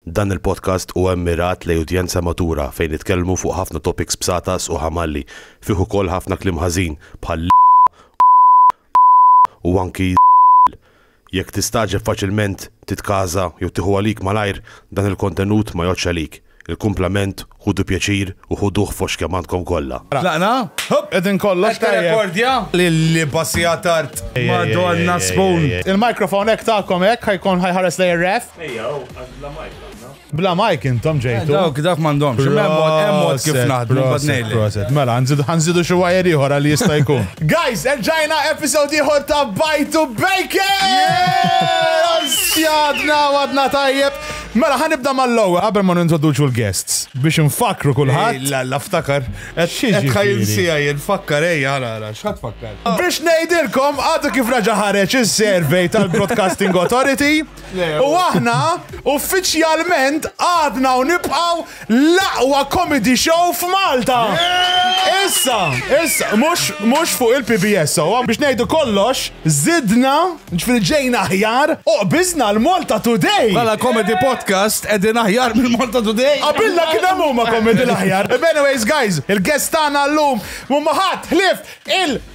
Dan il-podcast huwa mmirat lejn udjenza matura fejn nitkellmu fuq ħafna topics b'satas u ħamalli, fih ukoll ħafna kliem ħażin bħal l-, u anki l-. Jekk tistagħġeb faċilment, titkaża jew tieħu għalik malajr, dan il-kontenut ma jgħoddx għalik. Il-kumplament Ħudu pjaċir u ħuduh fost kemm għandkom kollha. Tlaqna? Hupp! Qegħdin kollox tajjeb. Qed tirrekordja? Lilli basija tard. Madonna Spoon! Il-microphone hekk tagħkom hekk ħa jkun ħa jħares lejn ir-ref. Ejja hu, għax bla mike tlaqna. Bla mike intom ġejtu. Dawk dawk m'għandhomx. Imma hemm mod hemm mod kif naħdmu mbagħad Proset, ngħidlek. proset. Mela, nżidu ħanżidu xi wire ieħor għal jista' jkun. Guys, erġajna episode ieħor ta' Bajtu Bacon! Sjadna għadna tajjeb. Mela ħa nibda mal-ewwel qabel ma nintroduċu l-guests biex infakkru kulħadd. Ej la la ftakar. Qed Xi qed ħa ġifieri? jinsieha jien fakkar ej ara ara x'ħadd fakkar. Biex ngħidilkom għadu kif reġa' ħareġ is-survey tal-Broadcasting Authority u aħna uffiċjalment għadna u nibqgħu L-aqwa comedy show f'Malta! Issa, issa, mhux, mhux fuq il-PBS, sewwa, biex ngħidu kollox, żidna, ġifieri ġejna aħjar, u qbiżna l-Malta Today! Bħala comedy podcast qegħdin aħjar mill-Malta Today! Qabilna kien hemm huma comedy l-aħjar. B'anyways guys, il-guests tagħna llum m'huma ħadd ħlief il-.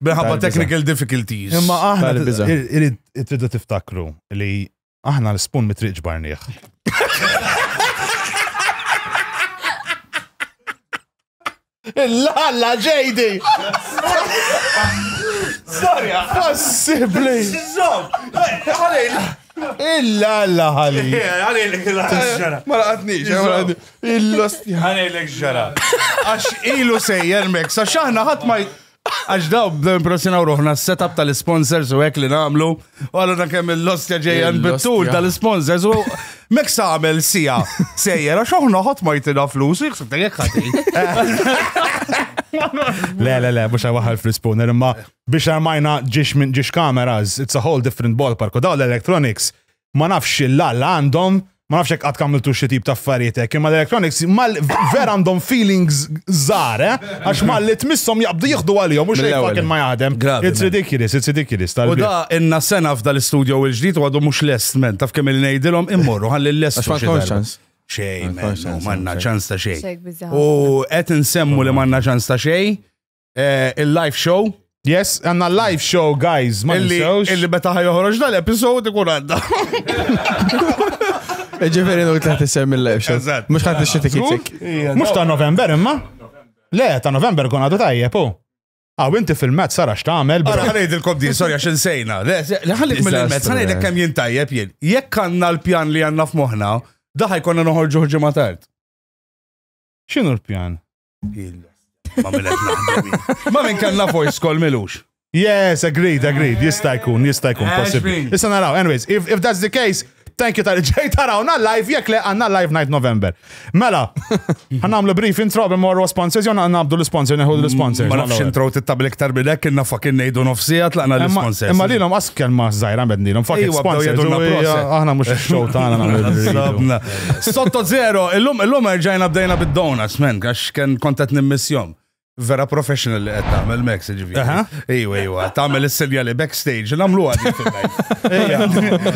Minħabba technical difficulties. Imma aħna tridu tiftakru li aħna l-spun mitriq ġbarniħ. Lalla ġejdi! Storja! Possibli! Illa alla ħali. Għalilek illa ġara. Ma laqatnix, illa sti. Għalilek ġara. Għax ilu sejjer mek, sa xaħna ħat ma Għax daw bdew impressjonaw ruħna s-setup tal-sponsors u hekk li nagħmlu. U għallu dan kemm il-lostja ġejja nbittul tal-sponsors u mek għamel sija sejjer għax aħna ħadd ma jitina flus u jħsib jekk ħati. Le, le, le, mux għawaħal fl-spooner, imma biex għamajna ġiex minn ġiex kameras, it's a whole different ballpark, u daw l-electronics ma nafx l-alla għandhom, ma nafx hekk qatt kamiltu xi tip ta' affarijiet hekk, imma l-electronics mal vera għandhom feelings żgħar, eh? Għax malli tmisshom jaqbdu jieħdu għalihom u xejn fucking ma jaħdem. It's ridiculous, it's ridiculous. U da inna sena f'da l-istudio u l-ġdid u għadu mhux lest men, taf kemm il-ngħidilhom immorru ħalli l-lest. Xejn, manna ċans ta' xejn. U qed insemmu li manna ċans ta' xejn, eh, il-live show. Yes, għanna live show, guys, ma Illi, nisewx. illi meta ħajoħroġ dal-episod ikun għadda. Ġifiri nuk taħt isem il-live show. Eżatt. Mux taħt ix-xiti kitik. Mux ta' November, imma? Le, ta' November kun għadu tajjeb, u. Għaw, inti fil-met, sara x'tagħmel, bro. Għara ħanajd il-kom din, sorry, għax insejna. Le, se- le, ħallik mill-met, Disaster, ħanajd eh. kemm jintajjeb jien. Jekk għanna l-pjan li għanna f'moħna, daħaj konna noħorġu ġimgħa tard. X'inhu l-pjan? Ma minn kellna voice call milux. Yes, agreed, agreed. Jista' jkun, jista' jkun possibbli. Issa naraw, anyways, if, if that's the case, thank you tal-ġej tarawna live, jek le għanna live night November. Mela, għannamlu brief intro bim morru sponsors, jonna għannabdu l-sponsor, neħu l-sponsor. Ma nafx intro tittabli iktar minn hekk, inna fakin nejdu nofsija tlaqna l-sponsor. Imma li l-om askel ma zaħira bedni, l-om fakin sponsor. Aħna mux xogħol tagħna nagħmlu. Sotto zero, illum illum erġajna bdejna bid-donuts, men, għax kien kontet nimmissjom. Vera professional li qed tagħmel Max, ġifieri. Aha. Ejwa, ejwa, tagħmel is-sinjali backstage, nagħmlu għadi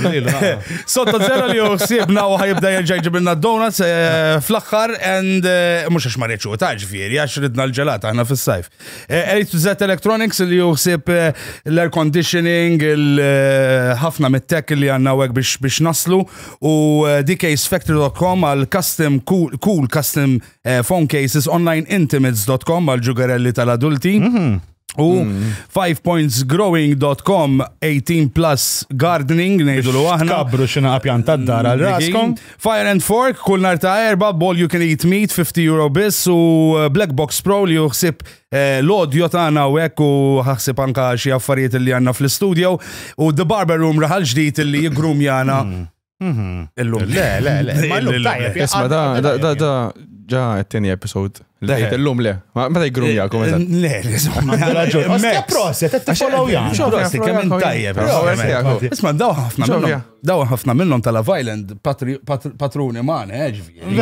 fil-live. Sotto zero li uħsibna u ħajibda jerġa' jġibilna donuts eh, fl-aħħar and eh, mhux għax ma rridx u ta' ġifieri, għax ridna l-ġelat aħna fis-sajf. Eh, A to Z Electronics li juħsib eh, l-air conditioning, eh, ħafna mit-tech li għanna għek biex, biex naslu u dksfactory.com għal custom cool, cool custom phone cases online intimates.com għal ġugarelli tal-adulti. Mhm. U 5pointsgrowing.com 18 plus gardening nejdu l aħna. Kabru xina għapjan tad-dar għal raskom. Fire and Fork kull nar ta' erba, ball you can eat meat, 50 euro biss u eh, Black Box Pro li juħsib eh, l-audio tagħna u hekk u ħaħsib anka xi affarijiet li għandna fl-istudio u The Barber Room raħal ġdid li jigrum jana illum. Le, le, le. Ma l-lum tajjeb. Isma, da, da, da, da, ġa t-tini episod. Le, l-lum le. Ma ta' jgrum jakum, eżat. Le, le, zomma. Raġun. Proset, t-follow jgħan. Proset, kemm tajjeb. Isma, daw ħafna. Dawn ħafna minnhom ta' Love Island patruni magħna, eh, ġifieri.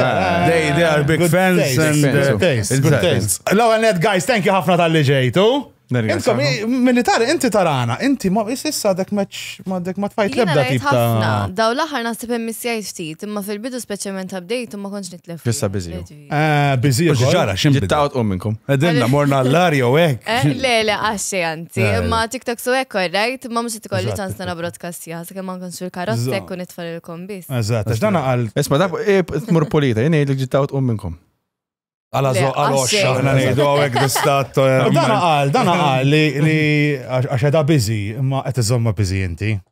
They they are big fans and uh, good taste. L-ewwel net guys, thank you ħafna tal-li ġejtu. Intom, militari, inti tarana, inti ma issa dek meċ, ma dek ma tfajt lebda tip ta' Daw l-aħħar naħseb hemm misjajt ftit, imma fil-bidu speċjalment update u ma kontx nitlef. Fissa biżi. Ah, Biżi. Mhux ġara, x'im bidel? Jittaqgħod u minnkom. Edinna, morna l-lar jew hekk. Eh, Le, le, għaxxi għanti. Eh, Ma TikTok su hekk korrajt, ma mhux tkolli Eżatt, ċans nara broadcast sija, sakemm ma nkunx fil-karozza Eżatt. jekk u nitfal il-kom biss. Eżatt, għax dan għal Isma, dak eh, tmur polita, jien ngħidlek ġittaqgħod u minnkom. għal Le, għażo- għal għax oxxa. xejn. Aħna ngħidu hawnhekk distat. eh, Dan għal, dan għal li li- għax għax edha biżi, imma qed iżomma biżi inti.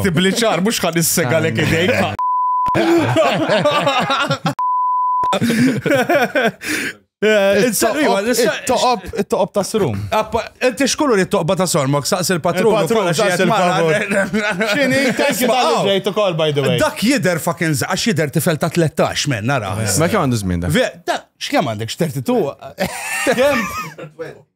Ktibli ċar, mux ħad is-sega l idejk. Toqob, toqob ta' srum. Inti xkullu li toqba ta' sormok, saqs il-patrun. Il-patrun, saqs il-patrun. Xini, thank you tal ġejt ukoll, by the way. Dak jider fucking zaqax jider tifel ta' 13 men, nara. Ma kemm għandu żmien dak? X'kemm għandek, x'terti tu?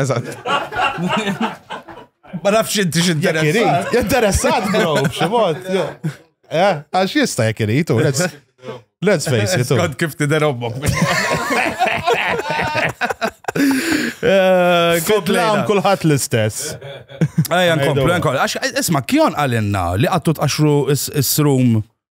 Eżatt. Ma nafx inti x'interessat. Interessat, bro, b'xi mod. Eh, għax jista' jekk irid, u let's let's face it. u. Skont kif tidher ommok. Eh, Kont l-għam komplejna. kulħadd l-istess. Ejja, nkomplu, Ngħidu. nkomplu. Għax, isma, kjon għalinna li għattu tqaxru is-srum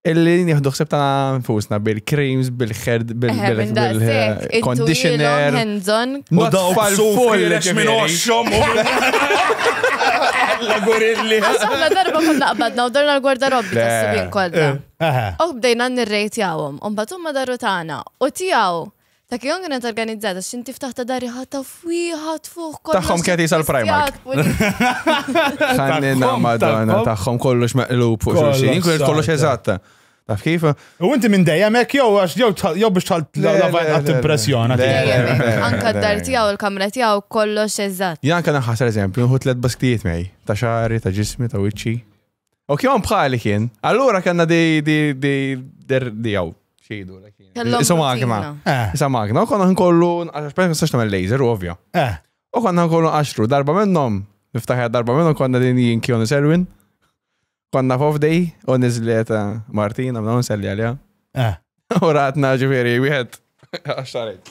Illi nieħdu ħseb ta' nfusna bil-creams, bil-herd, bil-conditioner. U dawk full minn oxxom. La gurilli. La darba kun naqbadna u darna l-gwarda robbi ta' subin kollha. U bdejna nirrejtjawhom, u mbagħad huma daru tagħna u tiegħu Ta' kien kienet organizzata, xin tiftaħ ta' dari ħatta fwiħa tfuħ kollox. Taħħom kien jisal Primark. Ħannina madonna, taħħom kollox meqlub fuq xulxin, inkun kollox eżatta. Taf kif? U inti minn dejjem hekk jew għax jew biex tħalt l-lavajn impressjona. Anka d-dar tiegħu l-kamra tiegħu kollox eżatt. Janka naħħas eżempju, nħu tliet basktijiet mej, ta' xari, ta' ġismi, ta' wiċċi. U kjon bħali kien. Allura kanna di di di der di għaw. Xidu, Isa magna. Isa magna. U konna nkollu, għax nistax tamel laser, u ovvja. U konna nkollu għaxru, darba minnom, niftaħja darba minnom, konna din jien kjon selwin. Konna fof dej, u nizlet Martina, mna nselli għalja. U ratna ġifiri, wieħed, għaxarek.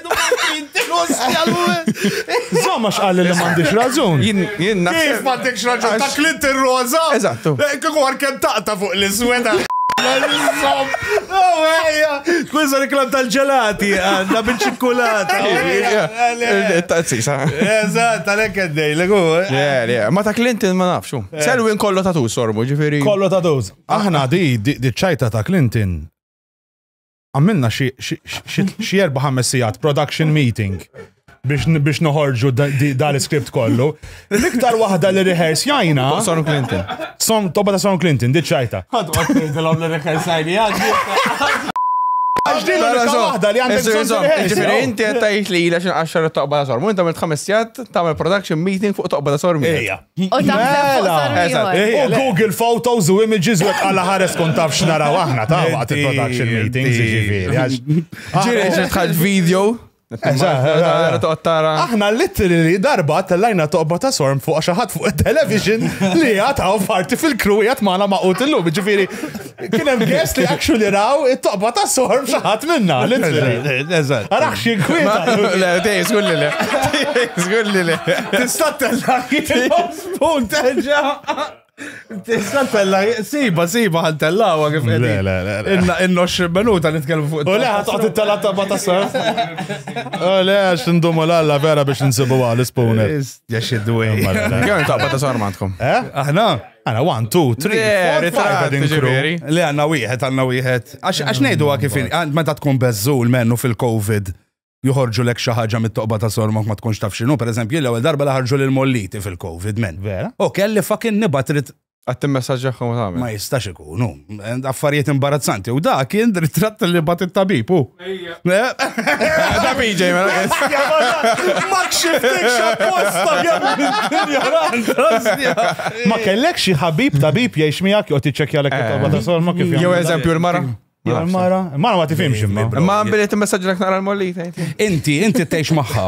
Zomma xqal li m'għandix raġun. Jien jien Kif m'għandekx raġun ta' Clinton Rosa? Eżattu. Eh, Kieku għar kem taqta fuq l-isweda. Kwizza reklam tal-ġelati, għanna bil-ċikkulata. Tazzisa. Eżat, għalek għaddej, l-għu. Le, le, ma ta' Clinton ma nafxu. Selwin kollu ta' tu sorbu, ġifiri. Kollu ta' tuż. Aħna di, di di ċajta ta' Clinton. għamilna xi erba' ħames sigħat production meeting biex noħorġu dal-script kollu. L-iktar waħda li rehearse jajna. Son Clinton. Son, toba ta' Son Clinton, diċċajta. Għadu għatni dilom li rehearse jajni għadni. Għaxdin l-unika waħda li għandek bżon rehearse. Ġifiri, inti għattajt li jila xin għaxar toqba ta' sormu, inti għamilt ħames sigħat, tagħmel production meeting fuq toqba ta' sormu. Ejja. U taħseb fuq Mela! sar Eżatt, ieħor. ej, U le. Google Photos u Images u għala ħares kun taf x'naraw aħna ta' waqt il-production Inti, meetings inti. ġifieri. għax- Ġiri, Aħna- ġiri tħalt video. Eżatt, eżatt. Toqgħod tara. Aħna literally darba tellajna toqba ta' sorm fuq xi ħadd fuq it-television li għataw parti fil-crew jgħat maħna maqut illum, ġifiri. Kien hemm guest li actually raw it-toqba ta' soħor b'xaħat minna. Eżatt. Arax xi kwieta. Le, tej, żgur li le. Żgur li le. Tista' tella spoon terġa'. Tista' tella, siba, siba ħan tellawa kif qed. Le, le, le. Inna inna 20 minuta nitkellmu fuq. U le ħadd toqgħod it-tella ta' ma ta' soħor. U le għax ndumu l-alla vera biex nsibu għal spoon. Jax id-dwej. Kemm toqba ta' soħor m'għandkom? Eh? Aħna? Għana, one, two, three, four, five, għadin kru. Li għanna wieħed, għanna wieħed. Għax nejdu għak kifin, meta tkun bezzul mennu fil-Covid, juħorġu lek xaħġa mit-toqba ta' sormok ma tkunx taf xinu. Per eżempju, l-ewel darba laħarġu l-molliti fil-Covid, men. Vera? U kelli fakin nibatrit Għattim messagġaħħom għamil. Ma jistax ikunu. Affarijiet imbarazzanti. U da kien ritratt li bat il-tabib, u. Da BJ, ma Ma kellek xi ħabib tabib jgħix miegħek jew tiċċekkja l kitaba ta' sol ma kif. Jew eżempju l-mara. Mara, mara ma tifhimx imma. Ma billi timmessaġġilek nara l-molli. Inti, inti tgħix magħha.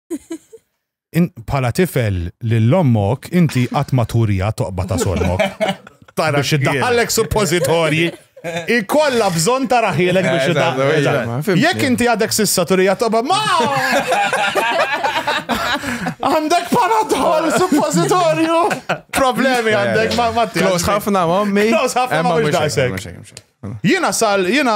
Bħala tifel lil ommok inti qatt ma turija toqba ta' solmok. Tara xi daħallek suppożitorji. Ikolla bżon ta' raħilek biex eh, id Jekk inti għadek sissa turija toba ma! Għandek panadol, suppositorju! Problemi għandek, ma ma Klos ħafna ma mi. Klos ħafna ma mux dajsek. Jina sal, jina.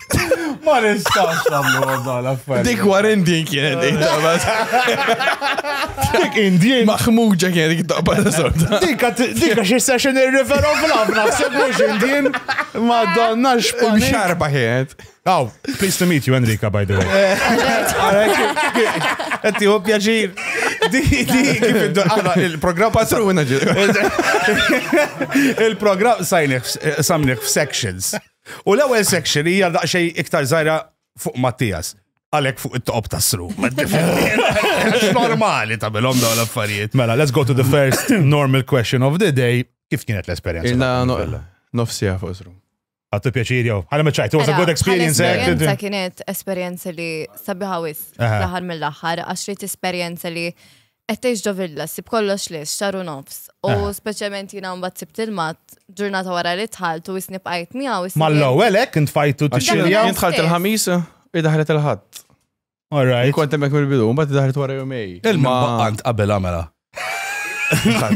Ma nistax namlu għadda l-affarijiet. Dik war Indian kienet dik tabas. Dik Indian. Maħmuġa kienet dik tabas sorta. Dik dik xi session irrifero fl-abna f'sebux Indian. Ma donna x'panik. Xarba kienet. Aw, pleased to meet you Enrica by the way. Qed hu pjaċir. Di kif il-programm patruna ġi. Il-programm sajniħ samniħ f'sections. U l-ewwel section hija daqsxejn iktar żgħira fuq Mattias. Għalek fuq it-top tas-sru. Normali ta' bilhom dawn l-affarijiet. Mela, let's go to the first normal question of the day. Kif kienet l-esperjenza? Inna nofsija fuq sru. Għattu pjaċir jow. Għana meċajt, it was a good experience. Eh? Esperienza kienet esperienza li sabiħawis laħar mill-laħar, għax li t-esperienza li Qed tgħix ġo villa, sib kollox lix, xar u nofs. U Ah. speċjalment jiena mbagħad sibt il-mat ġurnata wara li tħalt u isni bqajt miegħu. isni- Mal-ewwel hekk int fajtu Għax Dak tiċċiljaw. jien dħalt il-ħamis, i daħlet il-ħadd. All right. Kont hemmhekk mill-bidu, mbagħad daħlet wara jumej. Il-maqqant qabel għamela.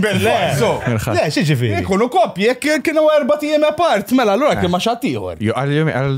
Belle. So, Mirħat. Le, xieġifiri. Ikunu koppji, jekk kienu erba tijem apart, mela l-għura kien ma xattijħor. Jo, għal jumej, għal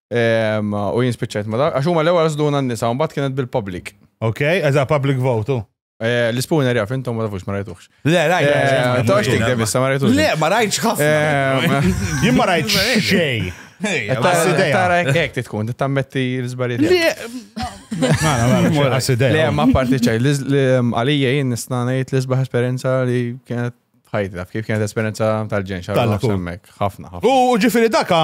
U jien spiċċajt ma dak, għax huma l-ewwel żduna n-nisa, u mbagħad kienet bil-public. Ok, eża public vote. u. Eh, L-ispooner jaf, intom ma tafux ma rajtuħx. Le, rajt. Eh, Tox tik de bissa, ma rajtuħx. Le, ma rajtx ħafna. Eh, Jien ma rajt xej. Tara ek titkun, tammetti l-zbariet. Mara, mara, għasideja. Le, ma parti ċaj, għalija jien nistanajt l-izbaħ esperienza li kienet ħajti, kif kienet esperienza tal-ġen, xarra ħafna. U ġifiri daka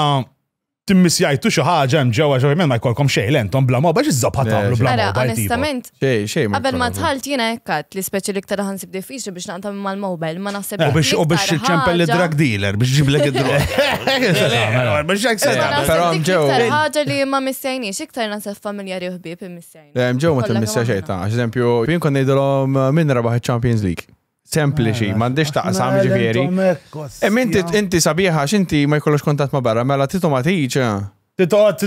timmisjajtu xi ħaġa hemm ġewwa ġewwa ma jkollkom xejn lentom bla mobile x'iżżob ħadd tagħmlu bla mobile. Onestament, xejn xejn. Qabel ma tħalt jiena hekkat li speċi li iktar ħansib diffiċli biex naqtam mal-mobile ma naħseb. U biex u biex ċempel drug dealer biex ġiblek id-drog. Biex hekk se però ġew. Ħaġa li ma missejniex iktar naħseb familjari u ħbieb imissejn. Ġew ma timmissja xejn ta' eżempju, jien kon ngħidilhom min rebaħ iċ-Champions League. sempliċi, ah, m'għandix taqsam ġifieri. Hemm inti inti sabiħa x'inti ma jkollux kontatt ma' barra, mela titu ma tiġ.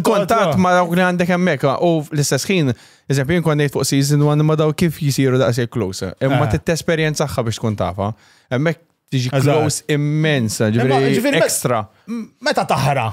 Kontatt ma' dawk li għandek hemmhekk ah, u l-istess ħin, eżempju jien kont fuq season one ma daw kif jisiru daqshekk close. Imma ah. titesperjenzaħħa biex tkun tafa. Hemmhekk tiġi close immensa, ġifieri ekstra. Meta taħra?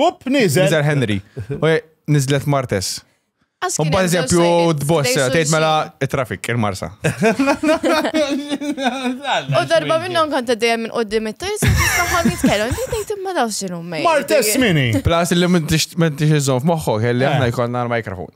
Up, nizel. Nizel Henry. Nizlet Martes. Un pa' eżempju, d-boss, tgħid mela traffic il-marsa. U darba minnhom kont dejjem minn qudiem it-tajs, tagħhom jitkellem, inti tgħid imma daw x'inhu mej. Martes mini. Plus li m'intix iżżomm f'moħħok, kelli aħna jkollna l-mikrofon.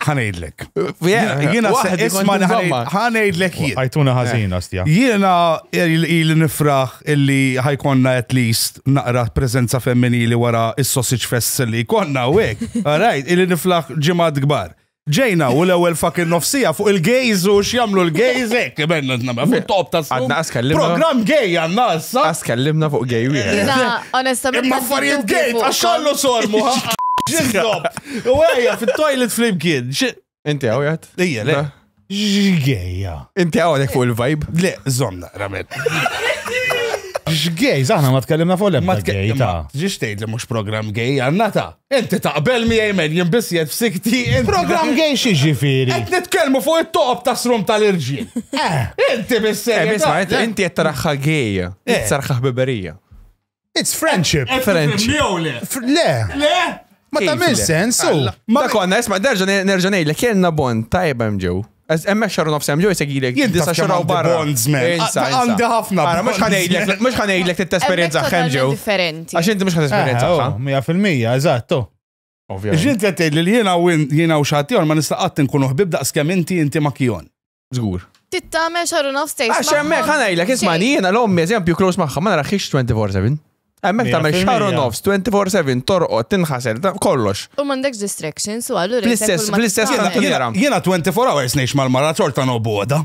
ħanejdlek. Jiena isma ħanejdlek jien. Għajtuna ħażina eh. stja. Jiena il nifraħ illi ħajkonna at least naqra preżenza femminili wara is-sausage fest li konna u hekk. Alright, illi niflaħ ġimgħat kbar. Ġejna u l-ewwel fucking nofsija fuq il-gays u x'jamlu l-gays hekk benna nagħmel fuq top ta' Għadna askellimna. Programm gay għandna issa. Askellimna fuq gay wieħed. Onestament. Imma affarijiet gay għax xallu sormu. Ġildob. U għajja fit-toilet flimkien. Inti għawjat? Ija, le. Xgeja. Inti għawnek fuq il-vibe? Le, zonna, ramet. Xgej, zaħna ma tkellimna fuq l-ebda gej ta' Ġiex tgħid li mhux programm gej għandna ta' inti taqbel mi jgħimen jimbis jed f'sikti. Programm gej xi ġifieri. Qed nitkellmu fuq it-toqob ta' srum tal-irġiel. Eh. Inti bisser. Eh, inti qed taraħħa gej. Eh. Sarħħa ħbiberija. It's friendship. Qed French. tifhimni jew le? Fr- Le, Le? ma Kif tagħmel le? sens. u. Alla. Ma konna, isma, nerġa' nerġa' ngħidlek, kellna bon tajba hemm ġew. Eż- Hemmhekk xarru nofs hemm ġew jsegilek Jien disa taf kemm xaraw għandi barra. bonds, man. Insa, Għad- insa. għandi ħafna Ara, mhux bonds, ħanejdlek, man. mhux ħanejdlek t-esperienza Hemmhekk hemm ġew. totalment differenti. Għax inti mhux ħad esperienza Eh, oh, ħa. 100%, eżatto. Ovvjament. Ġint qed tgħid li jiena u in- jiena u xattijor ma nista' qatt nkunu ħbib daqs kemm inti inti ma kijon. Zgur. Tittamel xar u nofs tgħix. Għax hemmhekk ħanajlek isma' jiena l-ommi eżempju close magħha ma naraħx 24/7. Hemmhekk tagħmel xar u nofs 24/7 torqod tinħasel kollox. U m'għandekx distractions u allura. Fl-istess fl-istess jiena 24 hours ngħix mal-mara ċorta noboda.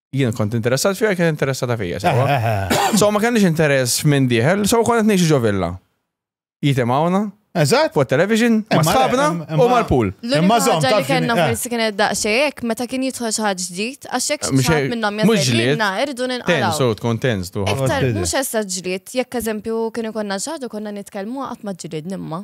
jien kont interessat fija, kien interessata fija. So ma kellix interess minn diħel, so kont ngħix ġo villa. Jitem hawnna. Eżatt. Fuq television, ma sħabna u mal-pool. Imma zom ta' li kellna eh. forsi kien daqsxejn meta kien jidħol xi ħadd ġdid, għax hekk eh, xi minnhom jażilna irdu ninqalgħu. Tensu tkun tens tu. Iktar mhux essa ġlied, jekk eżempju kien ikollna xi konna nitkellmu qatt ma ġlied nimma.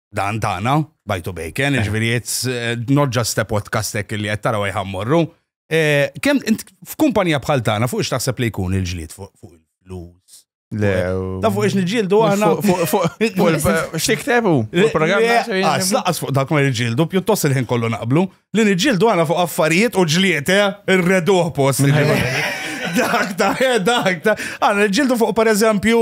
dan tagħna, bajtu bejken, eh. ġifieri it's eh, not just a podcast hekk li qed taraw jħammorru. Eh, kemm f'kumpanija bħal tagħna fuq x'taħseb li jkun il-ġlied fuq il-flus? Le. Ta' fuq ix nġildu għana. Fuq xtiktebu? Laqas fuq dak ma nġildu, pjuttost il-ħin kollu naqblu, li nġildu għana fuq affarijiet u ġliet, irredu post. Dak ta' dak ta' għana nġildu fuq per eżempju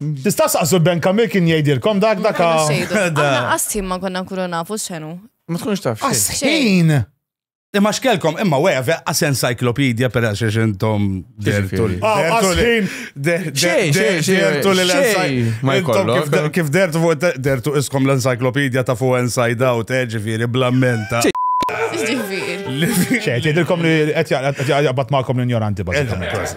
Tista' saqsu l-Ben Kamil kien jgħidilkom dak dak. Aħna qasħin ma konna nkunu nafu x'enu. Ma tkunx taf. Qasħin! Imma xkelkom, imma weja, għas encyclopedia per għax xiex intom dertu li. Għasħin! Dertu li l-encyclopedia. Kif dertu fuq dertu iskom l-encyclopedia ta' fuq inside out, eh, ġifiri, blammenta. Ġifiri. ċe, tgħidilkom li qed jaqbad magħkom l-injoranti bażikament.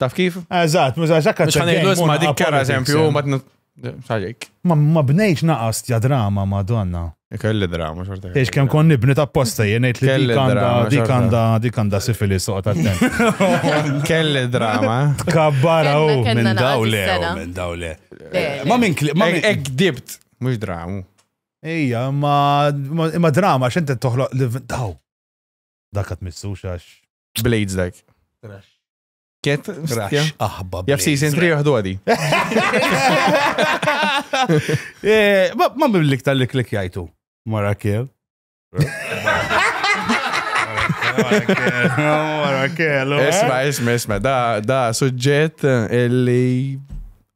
Taf kif? Eżatt, mhux għax hekk Mhux ħanejdu isma' dik kara eżempju ma xaġik. Ma bnejx naqas ja drama Madonna. Kelli drama xorta. Ex kemm kon nibni ta' posta jien ngħid li dik għandha dik għandha dik għandha sifili soqgħod attent. Kelli drama. Tkabbara u minn dawle minn dawle. Ma minn ma minn dibt mhux dramu. Ija, ma drama x'inti toħloq li daw. Dak qed missux għax Blades dak. Ket, Rax aħba. Jaf season 3 joħdu għadi. Eh, Ma ma biblik tal-li klik jajtu. Mara kiel. Isma, isma, isma, da, da suġġett illi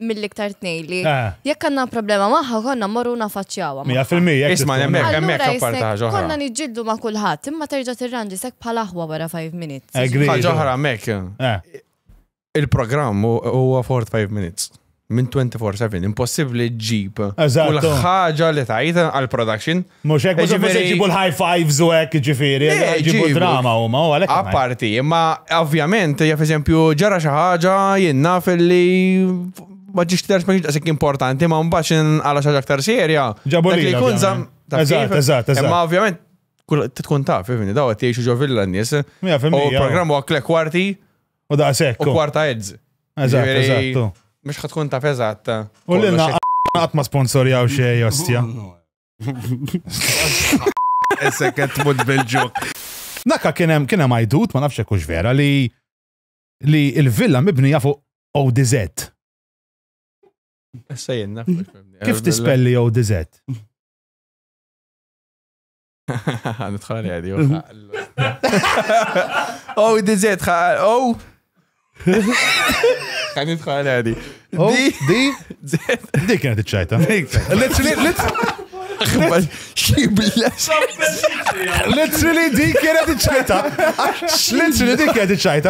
mill-iktar tnej li Ah. jekk għandna problema magħha konna morru nafaċċjawha. Mija fil-mija. jekk Isma' titfuna. nemmek. Allura hemmhekk apparti jisnek, ħaġa oħra. Konna niġġieldu ma' kulħadd, imma terġa' tirranġi sek bħal aħwa wara 5 minutes. Agree. Ħaġa oħra hemmhekk. Eh, Il-programm hu- huwa 45 minutes. Minn 24-7, impossibbli ġib. Eżatt. Kull ħaġa li tajt għal-production Mhux hekk, mhux se jġibu l-high fives u hekk ġifieri, jġibu drama huma u għalhekk. Apparti, imma ovvjament, jaf eżempju, ġara xi ħaġa jien naf li ma ġiex tidher ma ġiex importanti, ma mbagħad inqala xi ħaġa aktar serja. Ġabu li jkun żamm. Eżatt, eżatt, eżatt. Imma ovvjament, tkun taf, fimni, daw qed jgħixu ġo villa n-nies. U programm huwa klek kwarti. U daqshekk. U kwarta edz. Eżatt, eżatt. Mhux ħatkun taf eżatt. U l-inna qatt ma sponsorjaw xejn, ostja. Essek qed tmut bil-ġok. Naka kien hemm kien hemm għajdut ma nafx hekk vera li li l-villa mibnija fuq ODZ. Issa jenna. Kif tispelli ODZ? Nidħol għadi. ODZ, O Kan jitħal għadi. Oh, di? Di kienet iċċajta. Let's Literally di kienet iċċajta. Literally di kienet iċċajta.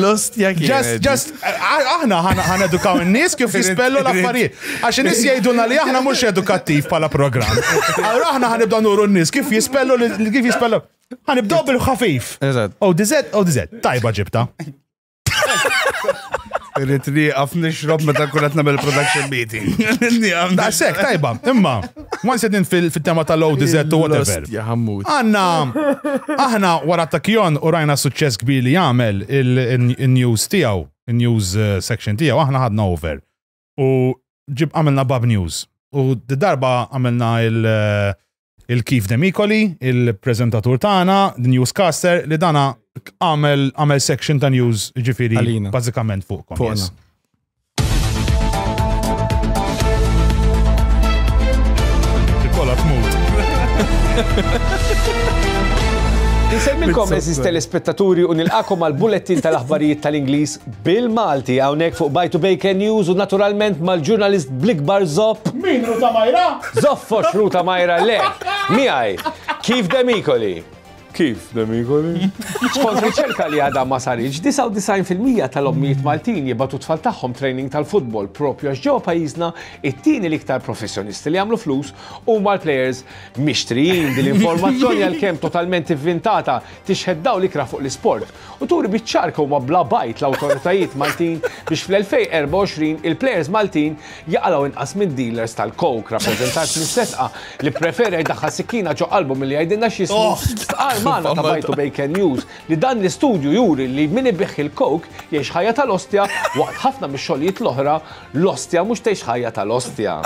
Lost jak. Just, just, aħna ħana edukaw n-nis kif jispellu l-affarijiet. Għax n-nis jajduna li aħna mux edukattiv pala program. Għara aħna ħanibda nuru n-nis kif jispellu kif jispellu. Għanibdob bil-ħafif. Eżatt. O dizet, o dizet, tajba ġibta. Irrit li għaf nixrob meta kunet namel production meeting. Da sek, tajba, imma, ma nsedin fil-tema tal low dizet u whatever. Għanna, aħna wara ta' kjon u rajna suċċess kbir li jagħmel il-news tiegħu, il-news eh, section tiegħu, aħna ħadna over. u ġib għamilna Bab News. U d-darba għamilna il-Kif Demikoli, il-prezentatur tagħna, newscaster, li dana għamel section ta' news ġifiri bazzikament fuq. Fuqna. Kolla tmut. Nsemmilkom eżiz telespettaturi u nilqakom għal bulletin tal-aħbarijiet tal-Ingliż Bil-Malti hawnhekk fuq Bajtu Bejken News u naturalment mal-ġurnalist bl-ikbar zopp. Min Ruta Majra? Zoffox Ruta Majra le! Miegħi, Keith Demicoli. Keith Demicoli. Skont riċerka li għadha ma saritx, 99 fil-mija tal-ommijiet Maltin jibgħatu t-tfal tagħhom training tal-futbol propju għax ġewwa pajjiżna it-tieni l-iktar professjonisti li jagħmlu flus huma l-plejers mixtrijin. Din l-informazzjoni għalkemm totalment ivvintata tixħet dawl ikrah fuq l-isport u turi biċ-ċar kemm huma bla bajt l-awtoritajiet Maltin biex fl-2024 il-plejers Maltin jaqalgħu inqas minn dealers tal-coke, rappreżentat minn Setqa li pprefera jdaħħal sikkina ġo qalbu milli jgħidilna x'jismu, stqarr magħna ta' Bajtu Bay Ken News li dan l-istudju juri li min ibigħ il-coke jgħix ħajja tal-ostja waqt ħafna mix-xogħlijiet l-oħra L-ostja mhux tgħix ħajja tal-ostja.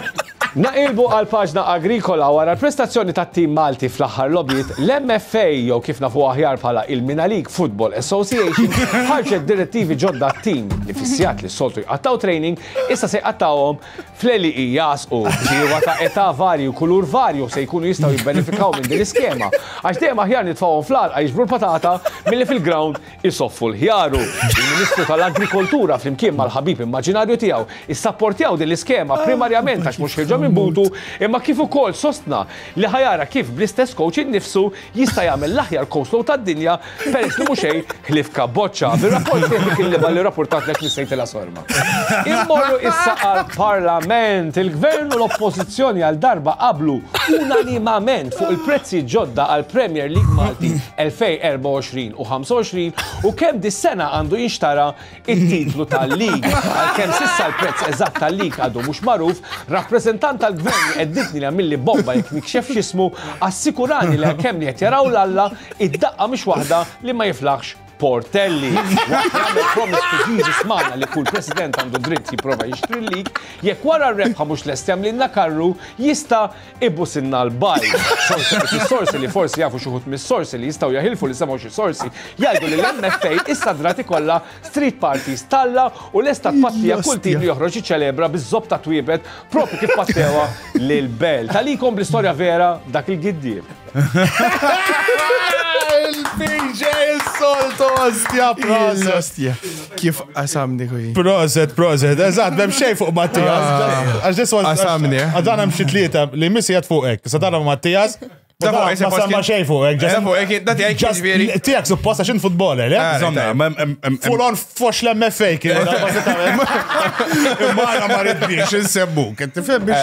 Naqilbu għal paġna agrikola wara l-prestazzjoni tat-tim Malti fl-aħħar logħbiet, l-MFA jew kif nafuha aħjar bħala il-Mina League Football Association ħarġet direttivi ġodda t-tim li fis-sigħat li s-soltu jqattgħu training issa se jqattgħuhom fl-għelieqi jagħsqu. Bdiewa ta' età varji u kulur varju se jkunu jistgħu jibbenefikaw minn din l-iskema għax dejjem aħjar nitfgħuhom fl-għalqa jiġbru l-patata milli fil-ground isoffu l-ħjaru, il-Ministru tal-Agrikoltura flimkien mal-ħabib immaġinarju tiegħu issapportjaw din l-iskema primarjament għax mhux ħieġa minn butu imma kif ukoll sostna li ħa jara kif bl-istess kowċ innifsu jista' jagħmel l-aħjar coastload tad-dinja peress li mhu xejn ħlief kabboċċa. Bir-rapport fih dik il-libgħa li rappurtatlek Miss Saintila Sorma. Immorru issa għal-Parlament. Il-Gvern u l-Oppożizzjoni għal darba qablu unanimament fuq il-prezzi ġodda għal-Premier League Malti 2024 u 25 u kemm dis-sena għandu jinxtara it-titlu tal-lig. Għalkemm sissa l-prezz eżatt tal-lig għadu mhux magħruf, rappreżentant tal-Gvern li qedditni li għamilli bomba jekk nikxef x'ismu, assikurani li għalkemm li qed jaraw l-Alla, id-daqqa mhix waħda li ma jiflaħx Portelli, waqt li għamel promise to Jesus magħna li kull President għandu dritt jipprova jixtri l-lig, jekk wara r-rebħa mhux lest jagħmlilna karru, jista' ibusilna l-bajl. Sorsi li forsi jafu xi wħud mis-sorsi li jistgħu jaħilfu li semgħu xi sorsi jgħidu li l-MFA issa dratt ikollha street parties t'Alla u lesta tpattija kull tim li joħroġ jiċċelebra biż-żopp ta' twiebet propju kif pattewha lil Belt. Għalikom bl-istorja vera dak il-giddieb. Il-PJ il-solt ostja, proset. Ostja. Kif qasamni kuj. Proset, proset. Eżat, bem xej fuq Mattias. Għax dis was. Qasamni. Għadan hemm xi tlieta li missi jgħat fuq hekk. Sa tara Mattias. Da fuq hekk. Ma samma xej fuq hekk. Da fuq hekk. Da tiegħek ġifieri. Tiegħek supposta x'in futbol, le? Full on fox l-MFA kien. Imma ma rridniex insebbu. Kien tifhem biex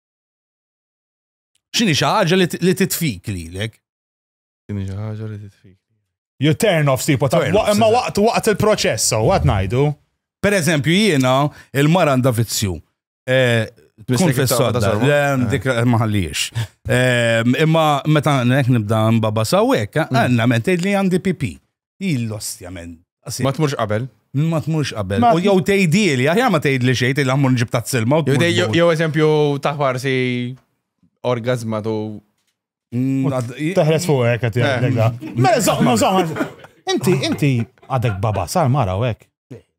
Xini xi ħaġa li titfik lilek? Xini xi ħaġa li titfik? You turn off sipo ta' imma waqt waqt il-proċess, so għad ngħidu. Per eżempju jiena il-mara għandha vizzju. Eh, Kun fessodda, eh. dik maħalliex. Eh, imma meta nek nibda mbaba sawek, għanna mentej li għandi pipi. Il-lostja men. Ma tmurx qabel. Ma tmurx qabel. U jew tgħidili, aħjar ma tgħidli xejn tgħidli ammur nġib tazz-silma. Jew eżempju ta' farsi orgazma tu. Mm, Teħres fuq hekk qed jgħidlek eh. da. Mela żomm, żomm. Inti, inti għadek baba sar mara u hekk.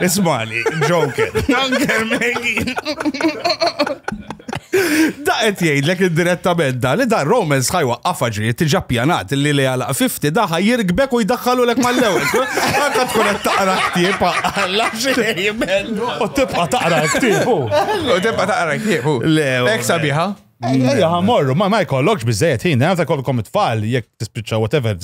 Ismali, Joker. Joker, Maggie. Da qed jgħidlek indirettament da li da Romans ħajwa qafaġi tiġa pjanat li li għala 50 da ħajjirbek u jdaħħalu lek mal-ewwel. Għandha tkun qed taqra ktieb għalla xejn. U tibqa' taqra ktieb. U tibqa' taqra ktieb. Le. Ek sabiħa. Ejja, morru, ma ma jkollokx bizzejet ħin, għanza kollkom it-tfal, jek tispiċċa whatever,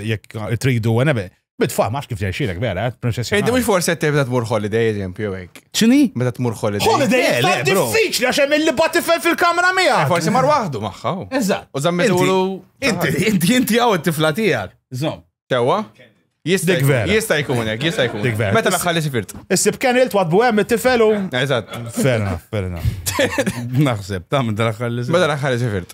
jek tridu, għanebe. Bitfam, għax kif ġejxilek vera, eh, princess. Inti mhux forse qed tibda tmur holiday eżempju hekk. Ċini? Meta tmur holiday. Holiday eh, le, bro. Diffiċli għax hemm il-liba tifel fil-kamra miegħek. Eh, forsi mar waħdu magħha. Oh. Eżatt. U żammetulu. Inti, inti, inti għaw it-tifla tiegħek. Żomm. Sewwa? Jista' jkun Jista' jkun hekk, jista' jkun. Dik vera. Meta l-aħħar li sifirt. Issib kien ilt wadbu hemm it-tifel u. Eżatt. Ferna, ferna. Naħseb, ta' minn dal-aħħar li sifirt. Meta l-aħħar li sifirt.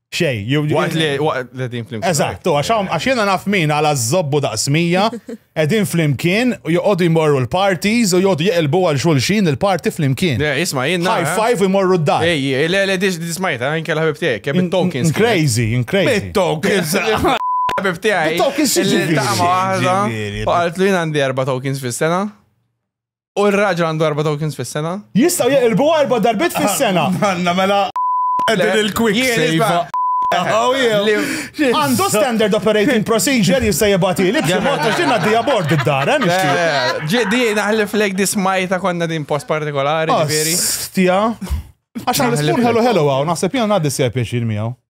Xej, Waqt li waqt li din flimkien. Eżatt, u għax hawn- għax jiena naf min għal żobbu daqs mija, qegħdin flimkien, u joqogħdu jmorru l-parties u joqogħdu jeqilbu għal xulxin il-party flimkien. Le, Isma' jien High nara. five u jmorru d-dar. Ej, ej, le, le, dis- dismajta, anke l-ħabib tiegħek, kemm it-tokens. In crazy, in crazy. Bit-tokens. Ħabib tiegħi. Bit-tokens xi li ġifieri? taqma waħda. Ġifieri, U qaltlu jien għandi erba' tokens fis-sena. U r-raġel għandu erba' tokens fis-sena? Jistgħu jeqilbu erba' darbit fis-sena. Għandna mela qegħdin il-quick save. Għandu standard operating procedure jista' jibgħatili b'xi mod għax din għaddejja bord id-dar, eh, nixtieq. Ġiedi naħlef lejk di smajta konna din post partikolari, ġifieri. Stja. Għax għal-ispun hello hello għaw, naħseb jena għaddi s-sija pieċir miegħu.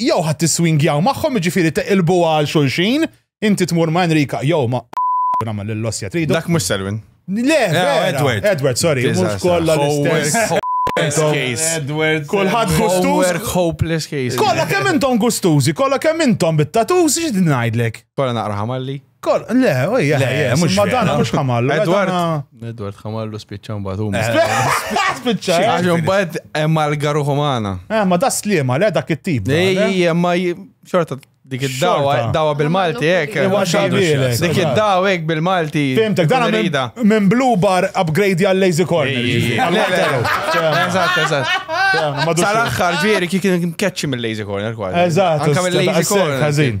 jew ħadd tiswingjaw magħhom jiġifieri teqilbuha għal xulxin, inti tmur ma' Enrika jew ma' nagħmel lill-ossja tridu. Dak mhux Selwyn. Le, Edward. Edward, sorry, mhux kollha l-istess. Edward. Kulħadd gustuż. Hopeless case. Kollha kemm intom gustużi, kollha kemm intom bit-tatuż, xi ngħidlek? Kollha naqra ħamalli. Kol, le, u hija. Le, ħajja, mhux ma vera. dana mhux ħamallu. ma Edward. dana- Edward ħamallu spiċċa mbagħad huma. Spiċċa, eh? Għax mbagħad hemm għal-garu ħomana. Eh, ma da slima, le dak it-tip. da, le? Ej, ma j- xorta dik id-dawa, Xorta. dawa bil-Malti hekk. Ewa xabilek. Dik id-dawa hekk bil-Malti. Fimtek, dana minn- Rida. minn Blue Bar upgrade għal Lazy Corner. Ej, ġifieri. le, le, Għal-Waterloo. le. Eżatt, eżatt. Fehmna, ma dux- Sal-axħar ġieri kien keċċi mill-lazy corner kważi. Eżatt, Anka mill-lazy corner. Ħażin.